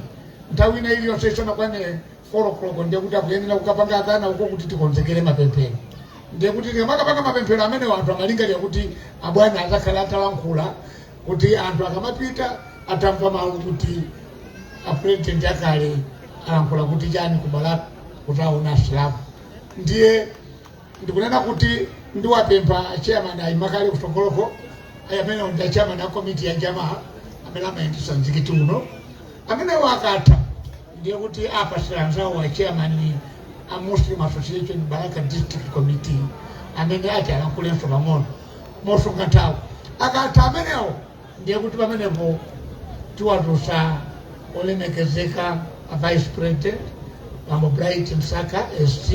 nthawi ina iliyonse isanakwane 4 o'clock ndiye kuti akuyenera kukapanga adhana uko kuti tikonzekere mapemphero ndiye kuti tikamapanga mapemphero amene anthu amalingalira kuti abwana azakhala atalankhula kuti anthu akamapita atamva mawu kuti apurezidenti akale alankhula kuti chani ku Balaka kuti aona asilamu ndiye ndikunena kuti ndiwapempha chairman ayime kale kutsogoloko amene ndi chairman a komiti ya jamaa amene amayendetsa mzikiti uno amenewo akatha ndiye kuti apatsira anzawo a chairman a muslim association balaka district committee amene ati alankhulenso pang'ono mosunga nthawi akatha amenewo ndiye kuti pamenepo tiwadzutsa olemekezeka a vice president bambo bright msaka sc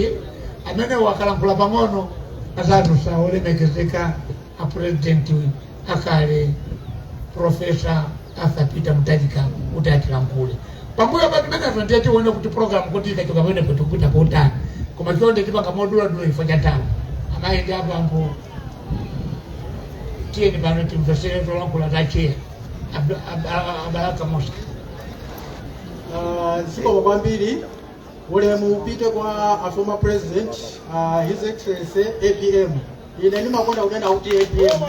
amenewo akalankhula pang'ono azadzutsa olemekezeka a president akale profesa arthur peter mutharika kuti atilankhule pambuyo pa zimenezo ndiye tione kuti programu kuti ikachoka pamenepo tikupita kotani koma chonde tipanga moduladula chifukwa cha nthawi amayi ndi abambo tiyeni pano timvesere zolankhula za cheya a balaka mosque Ah, zikomo kwambiri ulemu upite kwa a former president ah, his excellency apm ine ndimakonda kunena kuti apm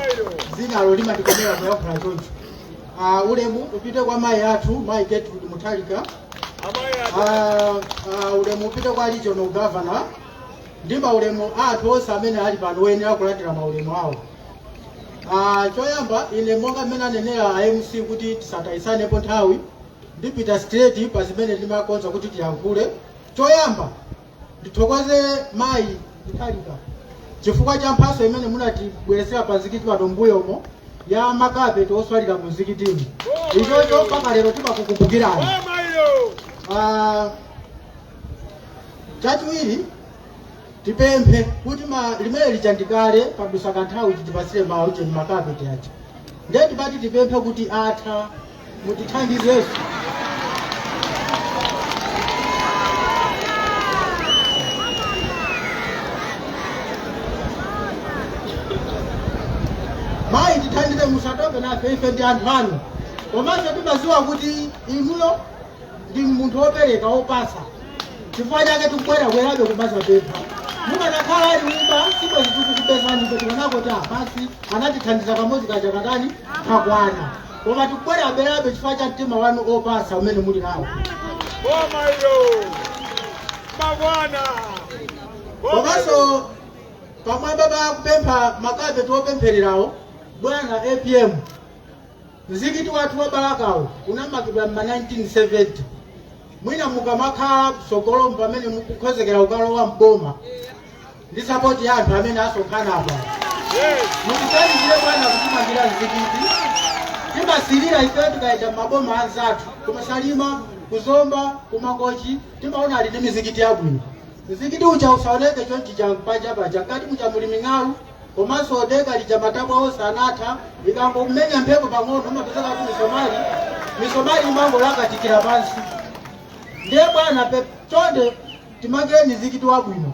dzinalo limandikomera kuyankhula choncho Ah, ulemu upite kwa mayi athu mayi Gertrude Mutharika Ah, ah, ulemu upite kwa regional governor ndi maulemu athu onse amene ali pano oyenera kulandira maulemu awo Ah, choyamba ine monga mmene anenera a mc kuti tisatayisanepo nthawi ndipita straight pa zimene ndimakonza kuti tiyankhule choyamba ndithokoze mayi Mutharika chifukwa cha mphaso imene munatibweretsera pa mzikiti pano mbuyo umo ya makapeti oswalira mu mzikitimu ichocho mpaka lero timakukumbukirani Ah, chachiwiri tipemphe kuti ma- limene lichandikale padusa kanthawi chitipasire ma ujeni makapeti aja ndiye tipati tipemphe kuti atha mutithandizeso mayi tithandize musatope nafe ife ndi anthu anu komanso timaziwa kuti inuyo ndi munthu wopereka wopasa chifukwa chake tikubwerabwerabe kumazapempha mukanakhala a liuma sibwezi tikukupezani kuti kanako ta basi anatithandiza kamodzi kaja katani kakwana koma tikubwerabwerabe chifukwa cha mtima wanu opasa umene muli nawo Boma hilo. Mabwana. Boma hilo. komanso pamwamba pa kupempha makapeti opemphererawo bwana apm mzikiti wathu wa balakawo unamangidwa mma 1970 mwina mukamakhala mtsogolomu pamene mukukhozekera kukalowa mboma ndi sapoti ya anthu amene asonkhana apa mutiganizire bwana kutimangira mzikiti timasirira ifeyo tikayenda m'maboma anzathu kuma salima kuzomba kumangochi timaona ali ndi mizikiti yabwino mzikiti uja usaoneke chonchi cha panja paja mkati muja muli ming'alu komanso denga lija matabwa onse anatha ikangomenya mphepo pang'ono umapezeka kuti misomali imangolakatikira pansi ndiye bwana pe- chonde timangireni mzikiti wabwino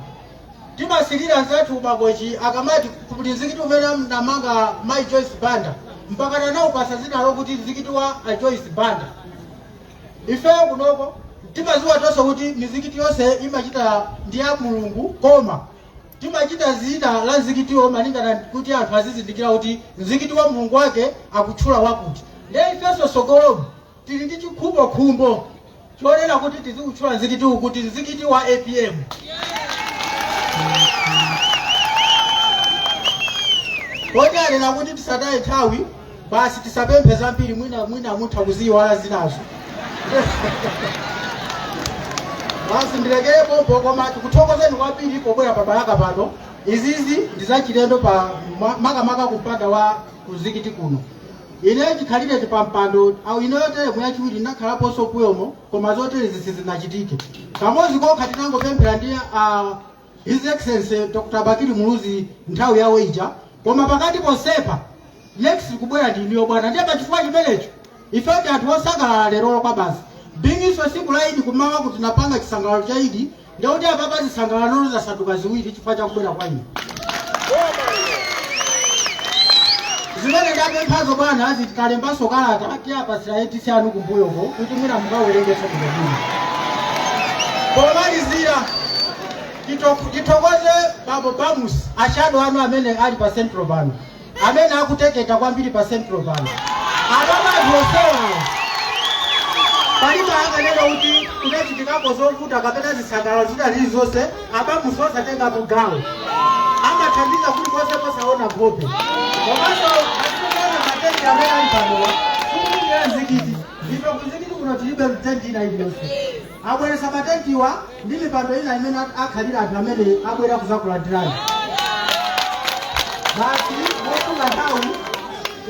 timasilira anzathu kumangochi akamati kuti mzikiti umene anamanga mai joyce banda mpaka anaupasa zina lokuti mzikiti wa a joyce banda ifeyo kunoko timaziwa tonse kuti mizikiti yonse imatchedwa ndi ya mulungu koma timatchula zina la mzikitiwo malingana kuti anthu azizindikira kuti mzikiti wa mulungu wake akutchula wakuti ndiye ifenso sogolomu Tili ndi chikhumbokhumbo chonena kuti tiziutchula mzikitiwu kuti mzikiti wa apm. Poti anena kuti tisataye nthawi basi tisapemphe zambiri mwina mutha kuziyiwala zinazo. Basi ndilekere pompo koma tikuthokozeni kwambiri pobwera pa Balaka pano. Izizi ndi zachilendo pa ma- makamaka kumpanda wa mzikiti kuno. ineyo chikhalire chi pampando au ino ndi teremu yachiwiri ndinakhalaponso mbuyomo koma zoterezi sizinachitike kamodzi kokha tinangopemphera ndi uh, his excellency dr bakili muluzi nthawi yawe ija koma pakati posepa next kubwera ndi inuyo bwana ndiye pachifukwa chimenecho ife ndi anthu osangalala lerolo kwa basi bingiso siku la idi kumawa kuti napanga chisangalalo cha idi ndikuti apapa zisangalalo zasanduka ziwiri chifukwa chakubwera kwa inu zimene ndapemphazo bwana zitikalembanso kalata tiwapatsira ADC anu kumbuyoko kuti mwina mukawerengetso kumbuyoko pomalizira tithokoze bambo Bamus ashado anu amene ali pa central pano amene akuteketa kwambiri pa central pano apapa anthu onsewa palibe akanena kuti kunachitikapo zovuta kapena zisangalalo zina zilizonse a Bamus osatenga mbali amathandiza kulikonse kosaona nkhope komanso zikuona matenti amene ali panowa sikuti ndi amzikiti ife kumzikiti kuno tilibe tenti ina iliyonse abweretsa matentiwa ndi mipando ina imene ak- akhalira anthu amene abwera kuzakulandirani basi mosunga nthawi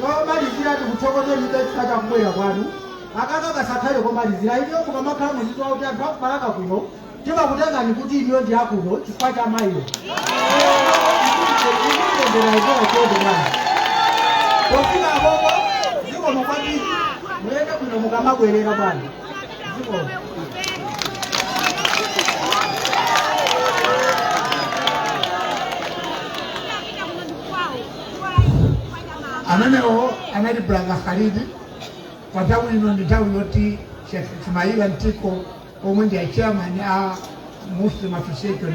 pomalizira tikuthokozeni chifukwa cha kubwera kwanu aka kasakhale komalizira inuyo mukamakhala muzidziwa kuti anthu akubalaka kuno timakutengani kuti inuyo ndi akuno chifukwa cha mayiyo pofika pamenepo zikomo kwambiri muyende bwino mukamabwerera bwana amenewo anali brother khalidi pa nthawi ino ndi nthawi yoti Sheikh ismaila mtiko omwe ndi achairman a muslim association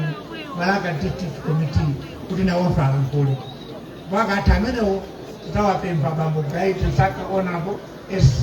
balaka district committee kuti nawonso alankhule pakati pamenepo titawapempha bambo bright msaka honourable sc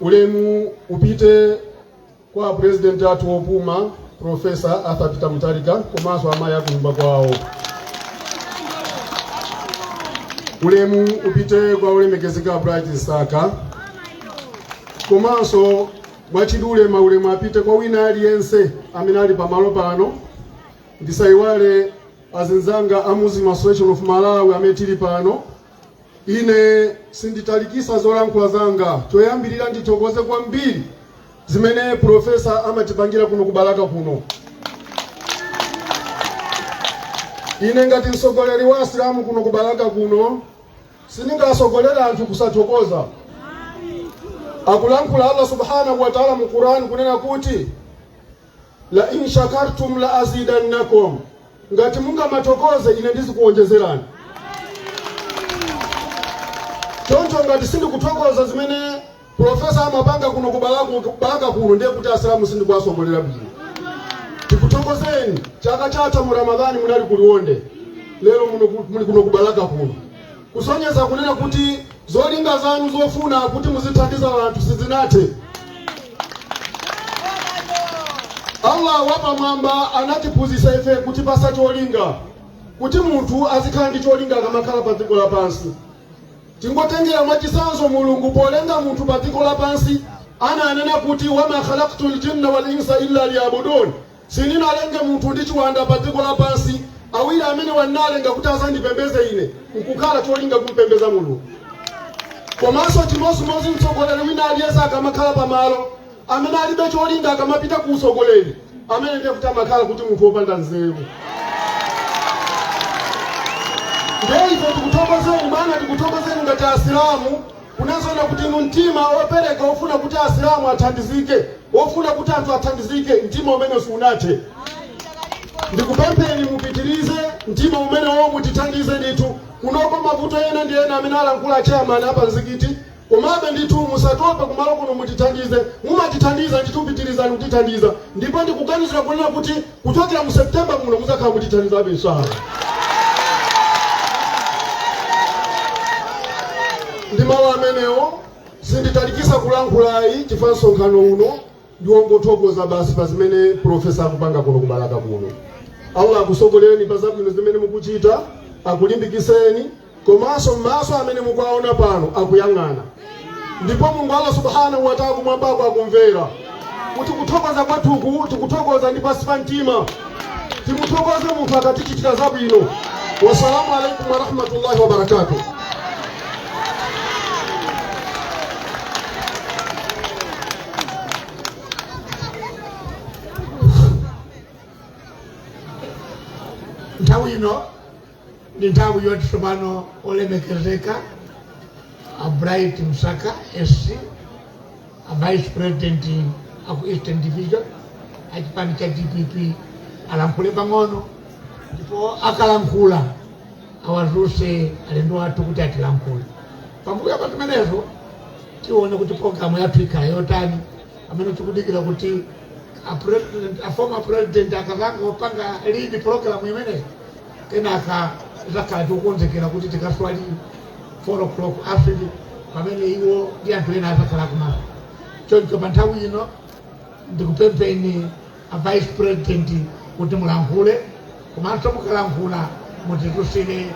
Ulemu upite kwa pulezidenti athu wopuma Profesa Arthur Peter Mutharika komanso amayi akunyumba kwawo. Ulemu upite kwa olemekezeka Bright Msaka komanso mwachidule maulemu apite kwa wina aliyense amene ali pamalo pano ndisayiwale azinzanga a Muslim Association of Malawi amene tili pano Ine sinditalikisa zolankhula zanga. Choyambirira ndithokoze kwambiri zimene profesa amatipangira kuno ku Balaka kuno. Ine ngati mtsogoleri wa Asilamu kuno ku Balaka kuno sindingasogolera anthu kusathokoza. Akulankhula Allah subhanahu wa ta'ala mu Quran kunena kuti la in shakartum la azidannakum ngati mungamathokoze ine ndizikuwonjezerani choncho ngati sindikuthokoza zimene profesa amapanga kuno kubalaka kuno ndiye kuti asilamu sindikuwasogolera bwino tikuthokozeni chaka chatha mu ramadhani munali kuliwonde lero muli kuno kubalaka kuno kusonyeza kunena kuti zolinga zanu zofuna kuti muzithandiza anthu sizinathe allah wapamwamba anatiphunzitsa ife kutipatsa cholinga kuti munthu azikhala ndi cholinga akamakhala pa dziko lapansi tingotengera mwachitsanzo mulungu polenga munthu pa dziko lapansi ananena kuti wama khalaktu ljinna wal insa illa liyabudun Sininalenge munthu ndi chiwanda pa dziko lapansi, awiri amenewa ndinalenga kuti azandipembeze ine, nkukhala cholinga kumpembeza Mulungu. Komanso chimodzimodzi mtsogoleri wina aliyense akamakhala pamalo amene alibe cholinga, akamapita ku utsogoleri, amene ndiye kuti amakhala kuti munthu wopanda nzeru. Ndiye ife tikuthokozeni bwana, tikuthokozeni ngati Asilamu kunena zoona kuti inu mtima wopereka wofuna kuti Asilamu athandizike ofuna kuti anthu athandizike mtima umenewu sunathe ndikupempheni mupitirize mtima umenewo mutithandize ndithu kunoko mavuto ena ndi ena amene alankhula chairman a pamzikiti komabe ndithu musatope kumalo kuno mutithandize mumatithandiza ndithu pitirizani kutithandiza ndipo ndikuganizira kunena kuti kuchokera mu september muno muzakhala mutithandizabe inshallah ndi mawu amenewo Sinditalikisa kulankhula ayi chifukwa msonkhano uno ndiwongothokoza basi pa zimene Professor akupanga kuno ku Balaka kuno. Allah akusogolereni pa zabwino zimene mukuchita, akulimbikiseni komanso maso amene mukuwaona pano akuyang'ana ndipo Mulungu Allah subhanahu wa ta'ala kumwambako akumvera. kuti kuthokoza kwathuku tikuthokoza ndi pansi pa mtima timuthokoze munthu akatichitira zabwino wasalamu alaikum warahmatullahi wabarakatuh nthawi ino ndi nthawi yoti tsopano olemekezeka a bright msaka sc a vice president aku eastern division a chipani cha dpp alankhule pang'ono ndipo akalankhula awadzutse alendo athu kuti atilankhule pambuyo pa zimenezo tione kuti programu yathu ikhala yotani amene tikudikira kuti a former president akazangopanga lead program imeneyi kenaka tidzakhala tikukonzekera kuti tikaswali 4 o'clock asiri pamene iwo ndi anthu ena adzakhala kumala choncho pa nthawi ino ndikupempheni a vice president kuti mulankhule komanso mukalankhula mutidzutsire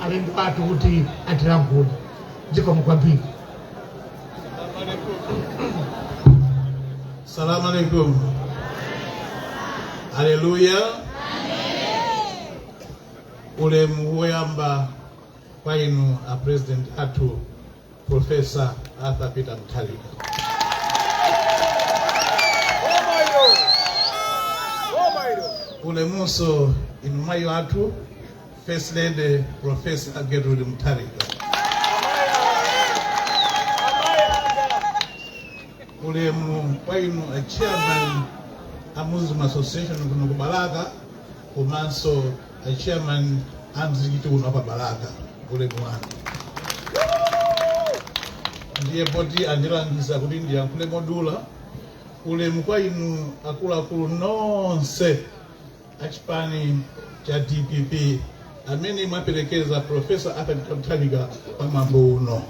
alendo athu kuti atilankhule zikomo kwambiri Salamu alaikum. Haleluya. Ulemu woyamba kwa inu a president athu Professor Arthur Peter Mutharika. Ulemunso inu mayi athu First Lady Professor Gertrude Mutharika. ulemu kwa inu a chairman a muslim association kuno ku balaka komanso a chairman a mzikiti uno apa balaka ulemu wanu ndiye poti andilangiza kuti ndiyankhule modula ulemu kwa inu akuluakulu nonse achipani cha dpp amene mwaperekeza profesa arthur peter mutharika pa mwambo uno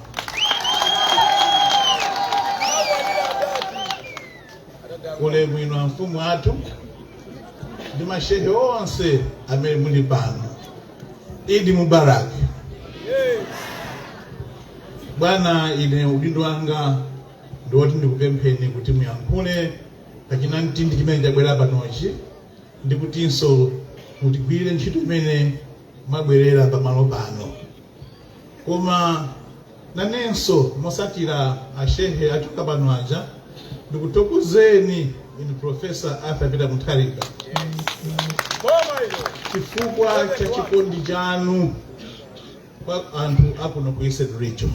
ulemu inu amfumu athu ndi mashehe onse amene muli pano idi mubarak bwana ine udindo wanga ndiwoti ndikupempheni kuti muyankhule ku chinamtindi chimene chabwera panochi ndikutinso mutigwirire ntchito imene mwabwerera pamalo pano koma nanenso mosatira ashehe achoka pano aja ndikuthokozeni inu profesa arthur peter mutharika chifukwa cha chikondi chanu kwa anthu akuno ku eastern region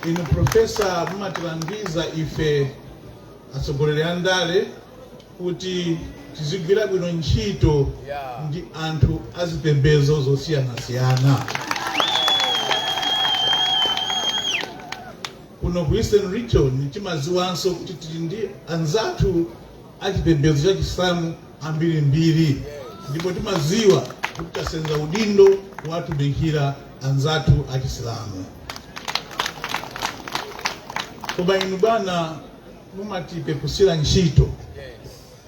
inu profesa mumatilangiza ife atsogoleri a ndale kuti tizigwira bwino ntchito ndi anthu azipembedzo zosiyanasiyana kuno ku eastern region timadziwanso kuti tili ndi anzathu a chipembedzo cha Chisilamu ambirimbiri ndipo timadziwa kuti tasenza udindo wotumikira anzathu a Chisilamu. Koma inu bwana mumatipeputsira ntchito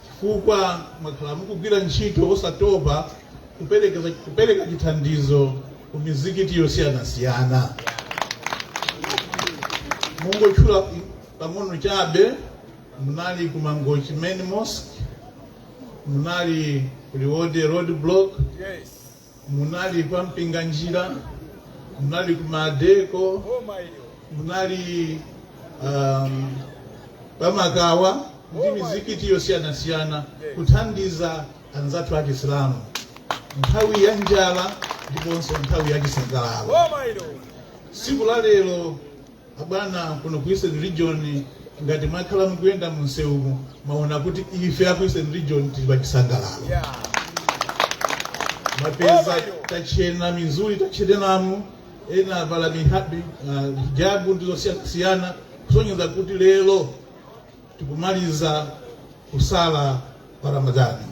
chifukwa mwakhala mukugwira ntchito osatopa kupereka chithandizo ku mizikiti yosiyanasiyana kungotchula pang'ono chabe munali ku mangochi main mosque munali ku liwonde road block munali kwa mpinganjira munali ku madeko munali pa makawa ndi mizikiti yosiyanasiyana kuthandiza anzathu a chisilamu nthawi ya njala ndiponso nthawi ya chisangalalo tsiku la lero abwana kuno ku eastern region ngati mwakhala mukuyenda mu msewu mwaona kuti ife aku eastern region tili pa chisangalalo mwapeza tachena mizuli tachenamu ena avala hijabu ndizosiyanasiyana kusonyeza kuti lero tikumaliza kusala kwa ramadhani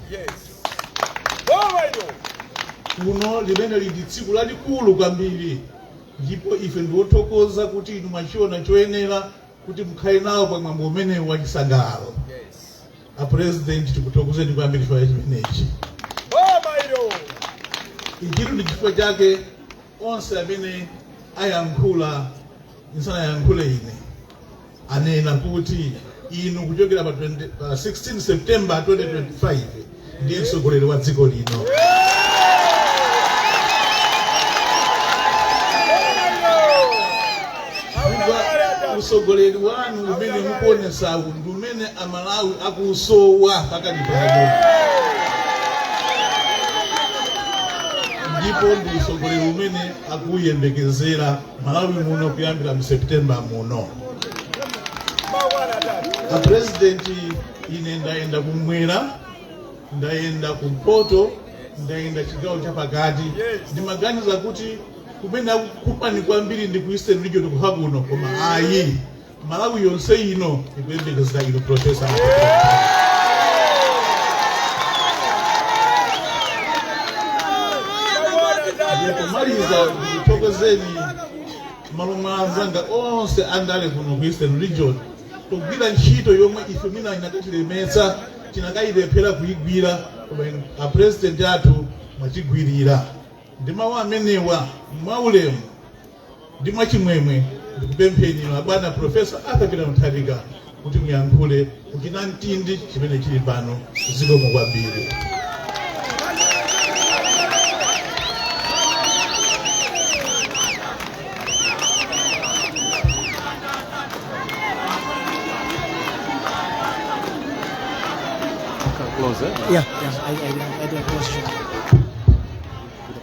kuno limene lili tsiku lalikulu kwambiri ndipo ife ndiwothokoza kuti inu mwachiona choyenera kuti mukhale nawo pa mwambo umenewu wa chisangalalo a president tikuthokozeni kwambiri chifukwa chimenechi ichitu ndi chifukwa chake onse amene ayankhula ndisanayankhule ine anena kuti inu kuchokera pa 16 september 2025 ndiye mtsogoleri wa dziko lino utsogoleri wanu umene mukuonesawu ndi umene amalawi akusowa pakali pano ndipo ndi utsogoleri umene akuyembekezera malawi muno kuyambira mu september muno apurezidenti ine ndayenda kumwera ndayenda kumpoto ndayenda chigawo chapakati ndimaganiza kuti kumene akukufunani kwambiri ndi ku eastern region kokha kuno koma ayi Malawi yonse ino ikuyembekezera inu Profesa pomaliza ndikuthokozeni m'malo mwa anzanga onse andale kuno ku Eastern Region pogwira ntchito yomwe ife mwina ikanatilemetsa tikanayilephera kuyigwira koma a president athu mwatigwirira ndi mawu amenewa mwaulemu ndi mwachimwemwe ndikupempheni abwana profesa arthur peter mutharika kuti muyankhule kuchinamtindi chimene chili pano zikomo kwambiri Yeah, yeah, I, I, I do a question.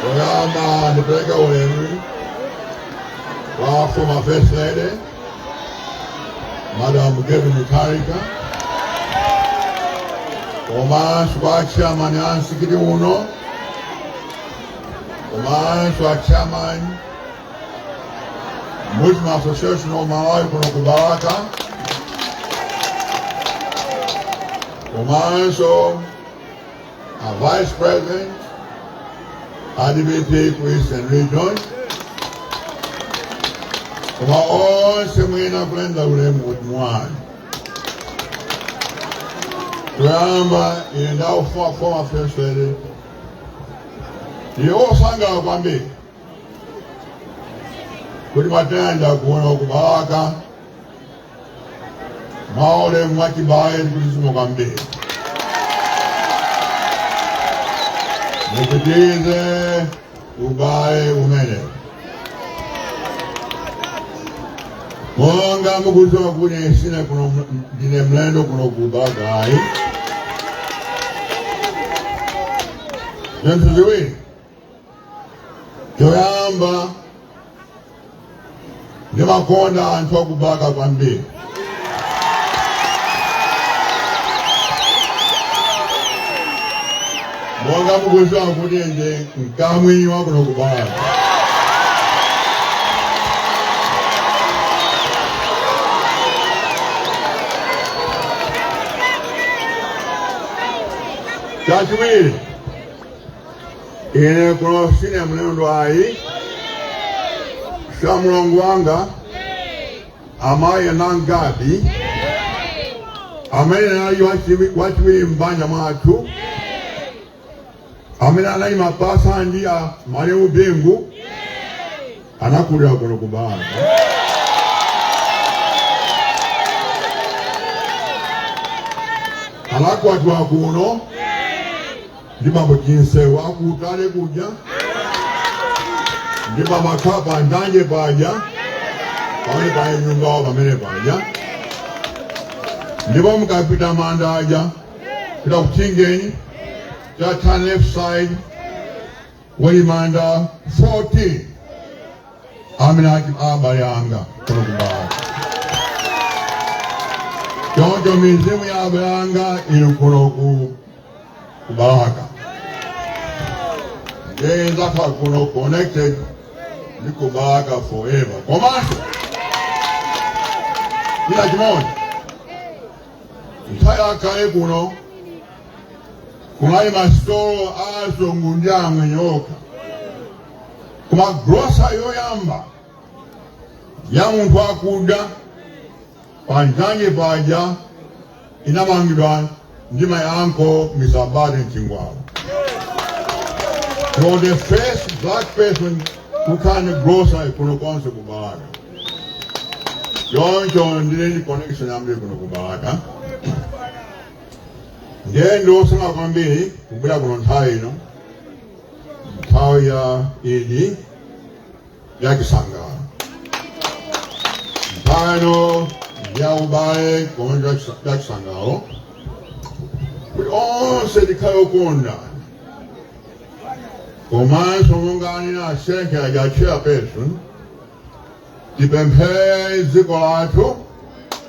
Poyamba ndipeleka ulemu kwa former first lady Madam Gertrude Mutharika komanso kwa chairman a msikiti uno komanso a chairman Muslim Association of Malawi kuno ku Balaka komanso a Vice President a DPP Eastern Region, koma onse mwina kulenda ulemu kuti mwana kuyamba ine ndi a former first lady ndiye osangala kwambiri kuti mwatilandira kuno ku Balaka Mwaulemu mwachibale ndikulizimu kwambiri mupitilize ubale umene monga mukudziwa kuti sine kuno ndine mlendo kuno ku Balaka ayi zinthu ziwiri choyamba ndimakonda anthu aku Balaka kwambiri monga mukuziwa kuti ndine mkamwini wakuno ku Balaka chachiwiri ine kuno sine mlendo ayi sha mulongo wanga amayi anangadi amene anali wachiwi- wachiwiri m'banja mwathu amene anali mapasa ndi a malemu Bingu anakulira kuno ku Balaka anakwatiwa kuno ndi bambo Chinsewu aku Utale kuja ndi bambo Akhapa ndanje paja pamene pali nyumbawo pamene paja ndipo mukapita manda aja pita ku Chingeni cha turn left side kuli manda 14 amene ali abale anga kuno ku Balaka choncho mizimu ya abale anga ili kuno ku ku Balaka ndiye ndidzakhala kuno connected ndi ku Balaka forever komanso china chimodzi nthawi yakale kuno kunali masitolo a azungu ndi amwenye okha koma grocery yoyamba ya munthu wakuda Pa njanji paja inamangidwa ndi my uncle Mr. Bade Mchingwala. He was the first black person who can grocery kuno konse ku Balaka. Choncho ndili ndi connection yambiri kuno ku Balaka. Ndiye ndi osangalala kwambiri kubwera kuno nthawi ino nthawi ya idi ya chisangalalo nthawi ya ubale komanso ya chisa- ya chisangalalo kuti onse tikhale okonda komanso monga anena asenke aja chairperson tipemphere dziko lathu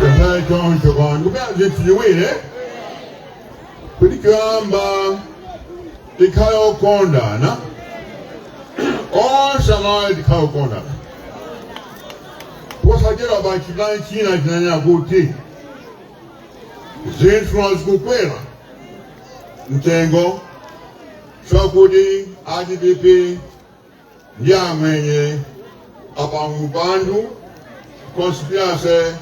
Tafadhali choncho kwa ndikupempha zinthu ziwiri kuti choyamba tikhale okondana onse amalawi tikhale okondana posachedwapa chipani china chinanena kuti zinthu zikukwera mtengo chakuti a dpp ndi amwenye apanga upandu conspiracy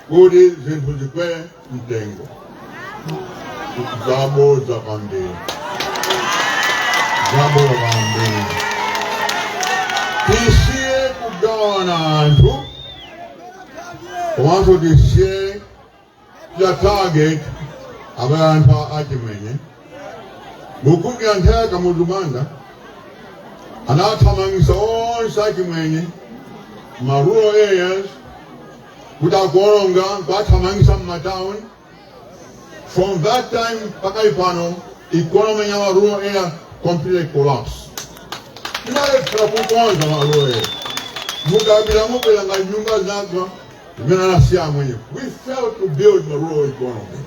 kuti zinthu zikwere mtengo zabodza kwambiri zabodza kwambiri tisiye kugawana anthu komanso tisiye ya target abale athu a- achimwenye mukumbukira nthawi ya kamuzu banda anathamangisa onse achimwenye ma rural areas kuti akuononga kuathamangisa mmatown from that time mpaka ipano economy ya ma rural area completely collapse tinalephera kukonza ma rural area mukapita mupeza nyumba zagwa zimene anasiya amwenye we failed to build the rural economy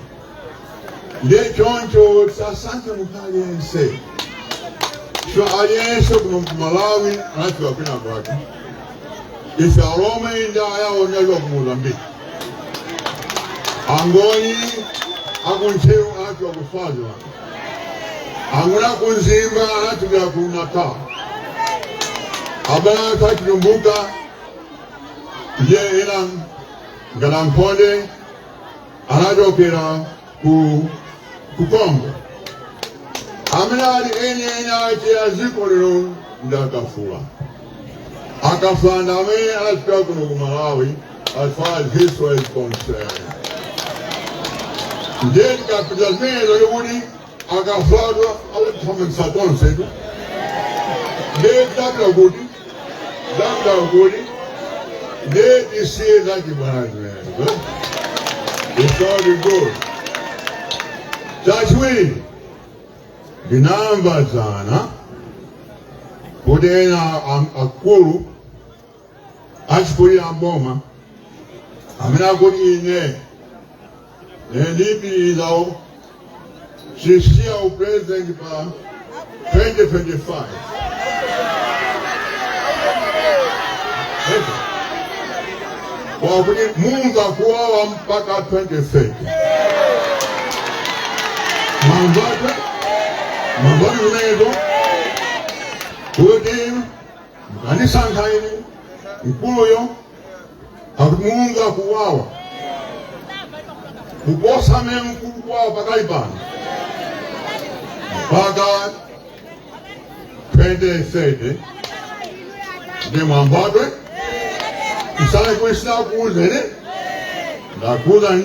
ndiye choncho tisasankhe munthu aliyense so aliyense kuno kumalawi anachokera kwina kwake ife alomwe ndi ayawo tinachokera ku mozambiki angoni akuntcheu anachokera ku swaziland angoni akumzimba anachokera ku natal abale athu achitumbuka ndiye ena ngati ankhonde anachokera ku congo amene ali eni eni ake a dziko lino ndi akafula akafula ndi amene anachokera kuno ku malawi as far as history is concerned ndiye tikachita zimenezo ndikuti akavadwa autifomensa tonsetu ndiye ndabula kuti ndabula kuti ndiye tisiye zachibwana it's all good chachiwiri ndinamva dzana kuti ena am- akulu achikulire m'boma amanena kuti ine ndipitiriza sisiya upresident pa 2025 akuti mumva kuwawa mpaka 2030 mwamvatu mamvani zimenezo kuti mukandisankha ine mkuluyo akuti mumva kuwawa kuposa mmene mukumva kuwawa pakali pano mpaka 2030 ndiye mwamvatu musalakwitse ndakuuzani ndakuuzani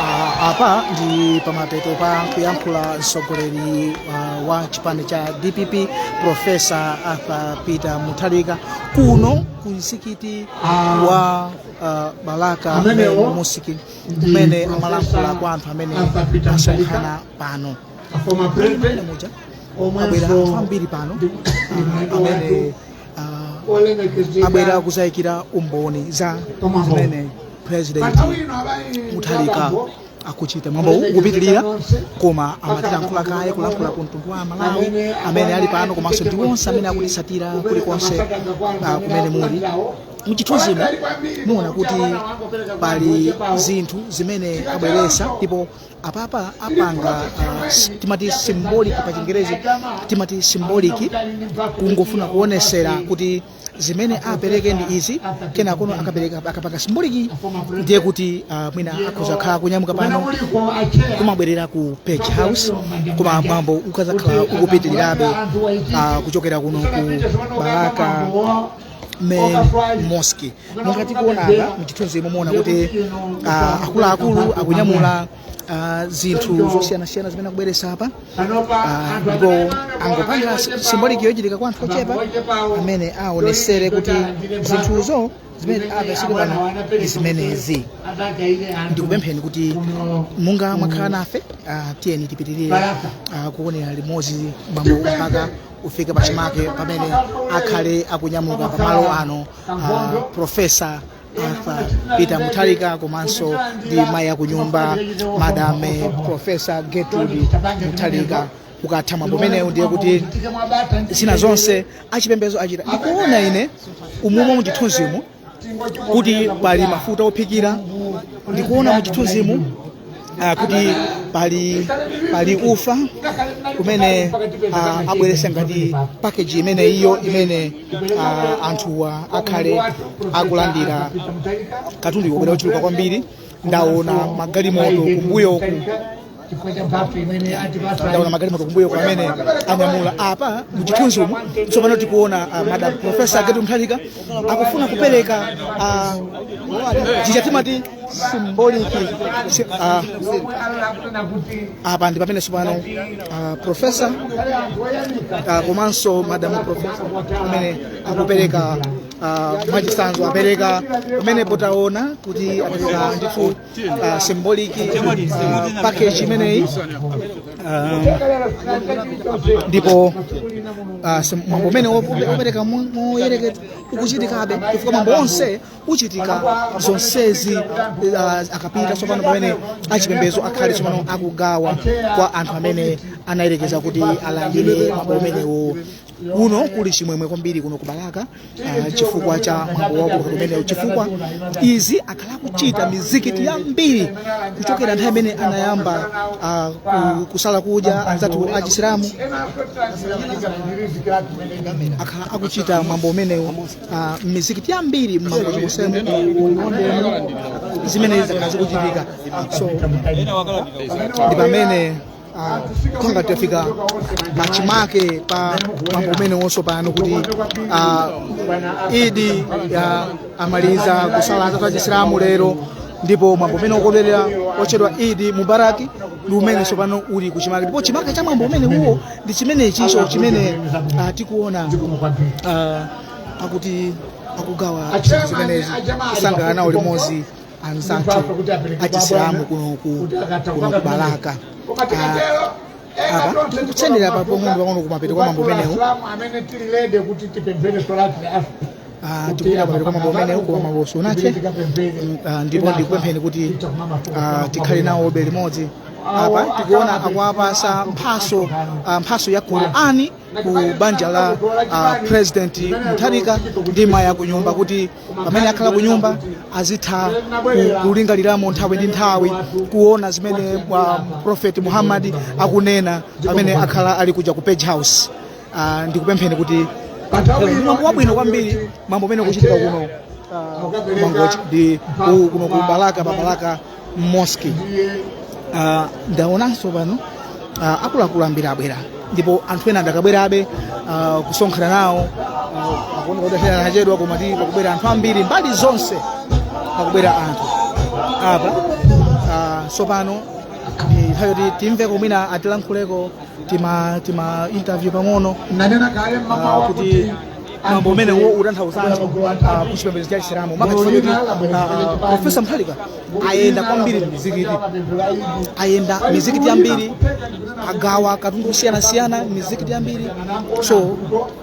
Ah, apa ndi pamapeto pa kuyankhula mtsogoleri ah, wa chipani cha dpp profesa arthur peter mutharika kuno ku msikiti wa ah, balaka Amenewo main mosque ndi kumene Profesa amalankhula kwa anthu amene Arthur Peter asonkhana pano a former Kodi president muja omwenso abwera anthu ambiri pano ndi- ndi mlendo amene wathu abwera kuzayikira umboni za zimene president muthalika akuchita mwambo ukupitirira koma amatilankhula kaye kulankhula ku mtundu wa amalawi amene ali pano komanso ndi onse amene akutitsatira kulikonse ah, kumene muli mchithunzimo muona kuti pali zinthu zimene abweresa ndipo apapa apanga uh, timati symbolic pa chingerezi timati symbolic kungofuna kuonesera kuti zimene apereke ndi izi kenakono akapereka akapanga symbolic ndiye kuti uh, mwina akhoza khala kunyamuka pano kumabwerera ku page house koma mwambo ukazakhala ukupitirirabe uh, kuchokera kuno ku balaka main mosque monga tikuona apa mchithunzimo muona kuti ah, akuluakulu akunyamula ah, zinthu zosiyanasiyana zimene akubweresa apa Ah, ndipo angopanga symbolic yochitika kwa anthu ochepa amene aonesere kuti zinthuzo zimene apereke pano ndi zimenezi ndikupempheni kuti monga mwakhala nafe ah, tiyeni tipitirire ah, kuonera limodzi mwambo mpaka ufike pachimake pamene akhale akunyamuka pamalo ano uh, profesa Arthur Peter Mutharika komanso ndi mayi akunyumba madame profesa Gertrude Mutharika ukatha mwambo umenewu ndiye kuti zina zonse achipembedzo achita ndikuona ine umumu mu chithunzimu kuti pali mafuta ophikira ndikuona mu chithunzimu uh, kuti pali pali ufa kumene uh, abweretsa ngati package imene iyo imene uh, anthuwa akhale akulandira katundu wabwera ochuluka kwambiri ndaona magalimoto kumbuyoku ndaona magalimoto kumbuyoko amene anyamula apa muchithunzi umu tsopano tikuona uh, madam profesa Gertrude Mutharika akufuna kupereka uh, chichatimati symbolically si- ah, apa ndi pamene tsopano ah, profesa ah, komanso madamu profesa amene akupereka ah, mwachitsanzo apereke pamene potaona kuti apereka ndithu ah, symbolic ah, package imeneyi Ah, ndipo ah, sim- mwambo umenewu opereka moyerekeza ukuchitikabe chifukwa mwambo onse kuchitika zonsezi ah, akapita tsopano pamene achipembedzo akhale tsopano akugawa kwa anthu amene anayerekeza kuti alandire mwambo umenewo Kuno kuli chimwemwe kwambiri kuno ku Balaka ah, chifukwa cha mwambo waukulu umenewo chifukwa izi akhala akuchita mizikiti yambiri kuchokera nthawi imene anayamba ah, ku- kusala kudya anzathu achisilamu akhala akuchita mwambo umenewo Ah, m'mizikiti yambiri m'Mangochi monsemu zimene zakhala zikuchitika so ndi pamene ah, kongati tafika pachimake pa mwambo umenewo tsopano kuti ah, idi ya amaliza kusala anzathu achisilamu lero ndipo mwambo umene wokondwerera otchedwa idi mubarak ndi umene tsopano uli kuchimake ndipo chimake cha mwambo umenewo ndi chimenechitso chimene ah, tikuona ah, akuti akugawa zinthu zimenezi kusangalala nawo limodzi anzathu achisilamu kuno ku kuno ku Balaka Ah, apa tikusendera pang'ono pang'ono kumapeto kwa mwambo umenewu amene tililede kuti tipemphere solati ya asr Ah, tikupita kumapeto kwa mwambo umenewu kwa mwambo wonsewu Mm, ah, ndipo ndikupempheni kuti ah, tikhale nawobe limodzi apa tikuona akuwapasa mphatso ah, mphatso ya qurani ku banja la ah, president Mutharika ndi mayi akunyumba kuti pamene akhala kunyumba azitha ku- kulingaliramo nthawi ndi nthawi kuona zimene ah, prophet Muhammad akunena pamene akhala ali kuja ku Page House Ah, ndikupempheni kuti mwambo ndi wabwino kwambiri mwambo umene ukuchitika kuno ah, ku mangochi ndi ku- kuno ku balaka pa Balaka mosque Ah, ndaonanso pano ah, akuluakulu ambiri abwera ndipo anthu ena adakabwerabe ah, kusonkhana nawo ah, akuoneka kuti achera anachedwa koma ti pakubwera anthu ambiri mbali zonse pakubwera anthu apa ah, tsopano ndi nthawi yoti timveko mwina atilankhuleko tima tima interview pang'ono nanena kale ah, mmawa kuti kuti mwambo umenewu utanthauzanji ah, ku chipembedzo cha chisilamu maka chifukwa choti ah, profesa Mutharika ayenda kwambiri mizikiti ayenda mizikiti yambiri agawa katundu wosiyanasiyana mizikiti yambiri so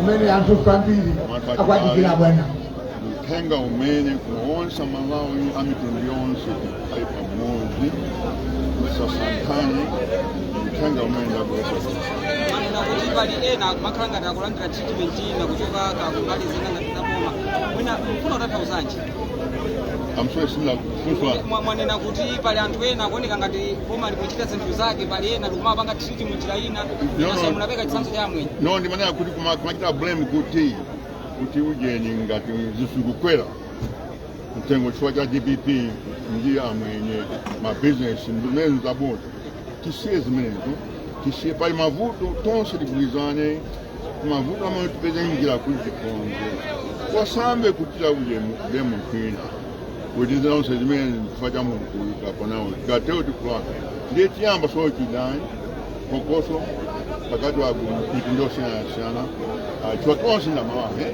umene anthu kwambiri akwadikira bwana uthenga umene kuuza amalawi a mitundu yonse ali pamodzi asasankhane uthenga umene ndabwera pali ena kumakhala ngati akulandira treatment ina kuchoka kumbali zina ngati zaboma mwina mfuna kutanthauzanji am sorry sindinamvetse Mwa- mwanena kuti pali anthu ena akuoneka ngati boma likuchita zinthu zake pali ena likumapanga treat munjira ina no. nasa munapereka chitsanzo cha amwenye no ndimanena kuti kuma- kumachita blame kuti kuti ujeni ngati zinthu zikukwera mtengo chifukwa cha dpp ndi amwenye mabizinesi ndinene zabodza tisiye zimenezo tisiye pali mavuto tonse tigwirizane mavuto amene tipeze njira kuti tikonze wasambe kutira ulemu ulemu kwina kuti zonse zimene chifukwa cha mulungu kuikapo nawo tikatero tikulaka ndiye tiyamba osati chidani phokoso pakati pa mitundu yosiyanasiyana Ah, chifukwa tonse nd'amalawi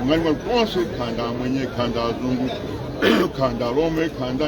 ngati mwa tonse kaya nda amwenye kaya nda azungu kaya nda lomwe kaya nda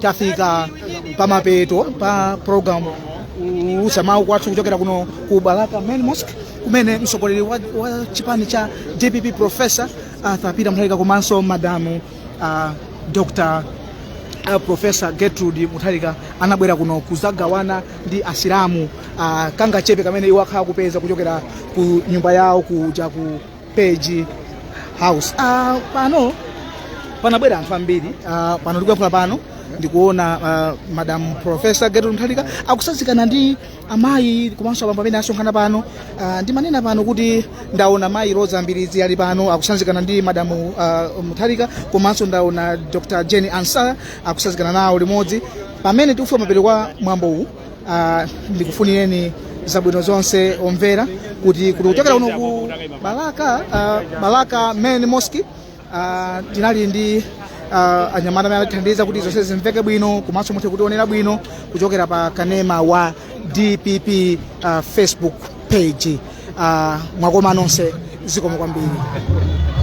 tafika pamapeto pa program youlutsa mawu kwathu kuchokera kuno ku balaka main mosque kumene mtsogoleri wa, wa chipani cha dpp professor arthur peter mutharika komanso madamu uh, dr uh, professor gertrude mutharika anabwera kuno kuzagawana ndi asilamu uh, kangachepe kamene iwo akhala akupeza kuchokera ku nyumba yawo kuja ku page house ah, pano panabwera anthu ambiri ah, pano tikuyankhula pano ndikuona ah, madam professor gertrude mutharika akutsanzikana ndi amayi komanso abambo amene asonkhana pano ah, ndimanena pano kuti ndaona mayi roza mbilizi ali pano akutsanzikana ndi madam ah, mutharika komanso ndaona dr jane ansah akutsanzikana nawo limodzi pamene tikufika kumapeto kwa mwambo uwu Ah, ndikufunireni zabwino zonse omvera kutikuti kuchokera kuno ku balaka ah, balaka main mosque ah, tinali ndi ah, anyamata amene anatithandiza kuti zonse zimveke bwino komanso muthe kutionera bwino kuchokera pa kanema wa dpp ah, facebook page Ah, mwakoma nonse zikomo kwambiri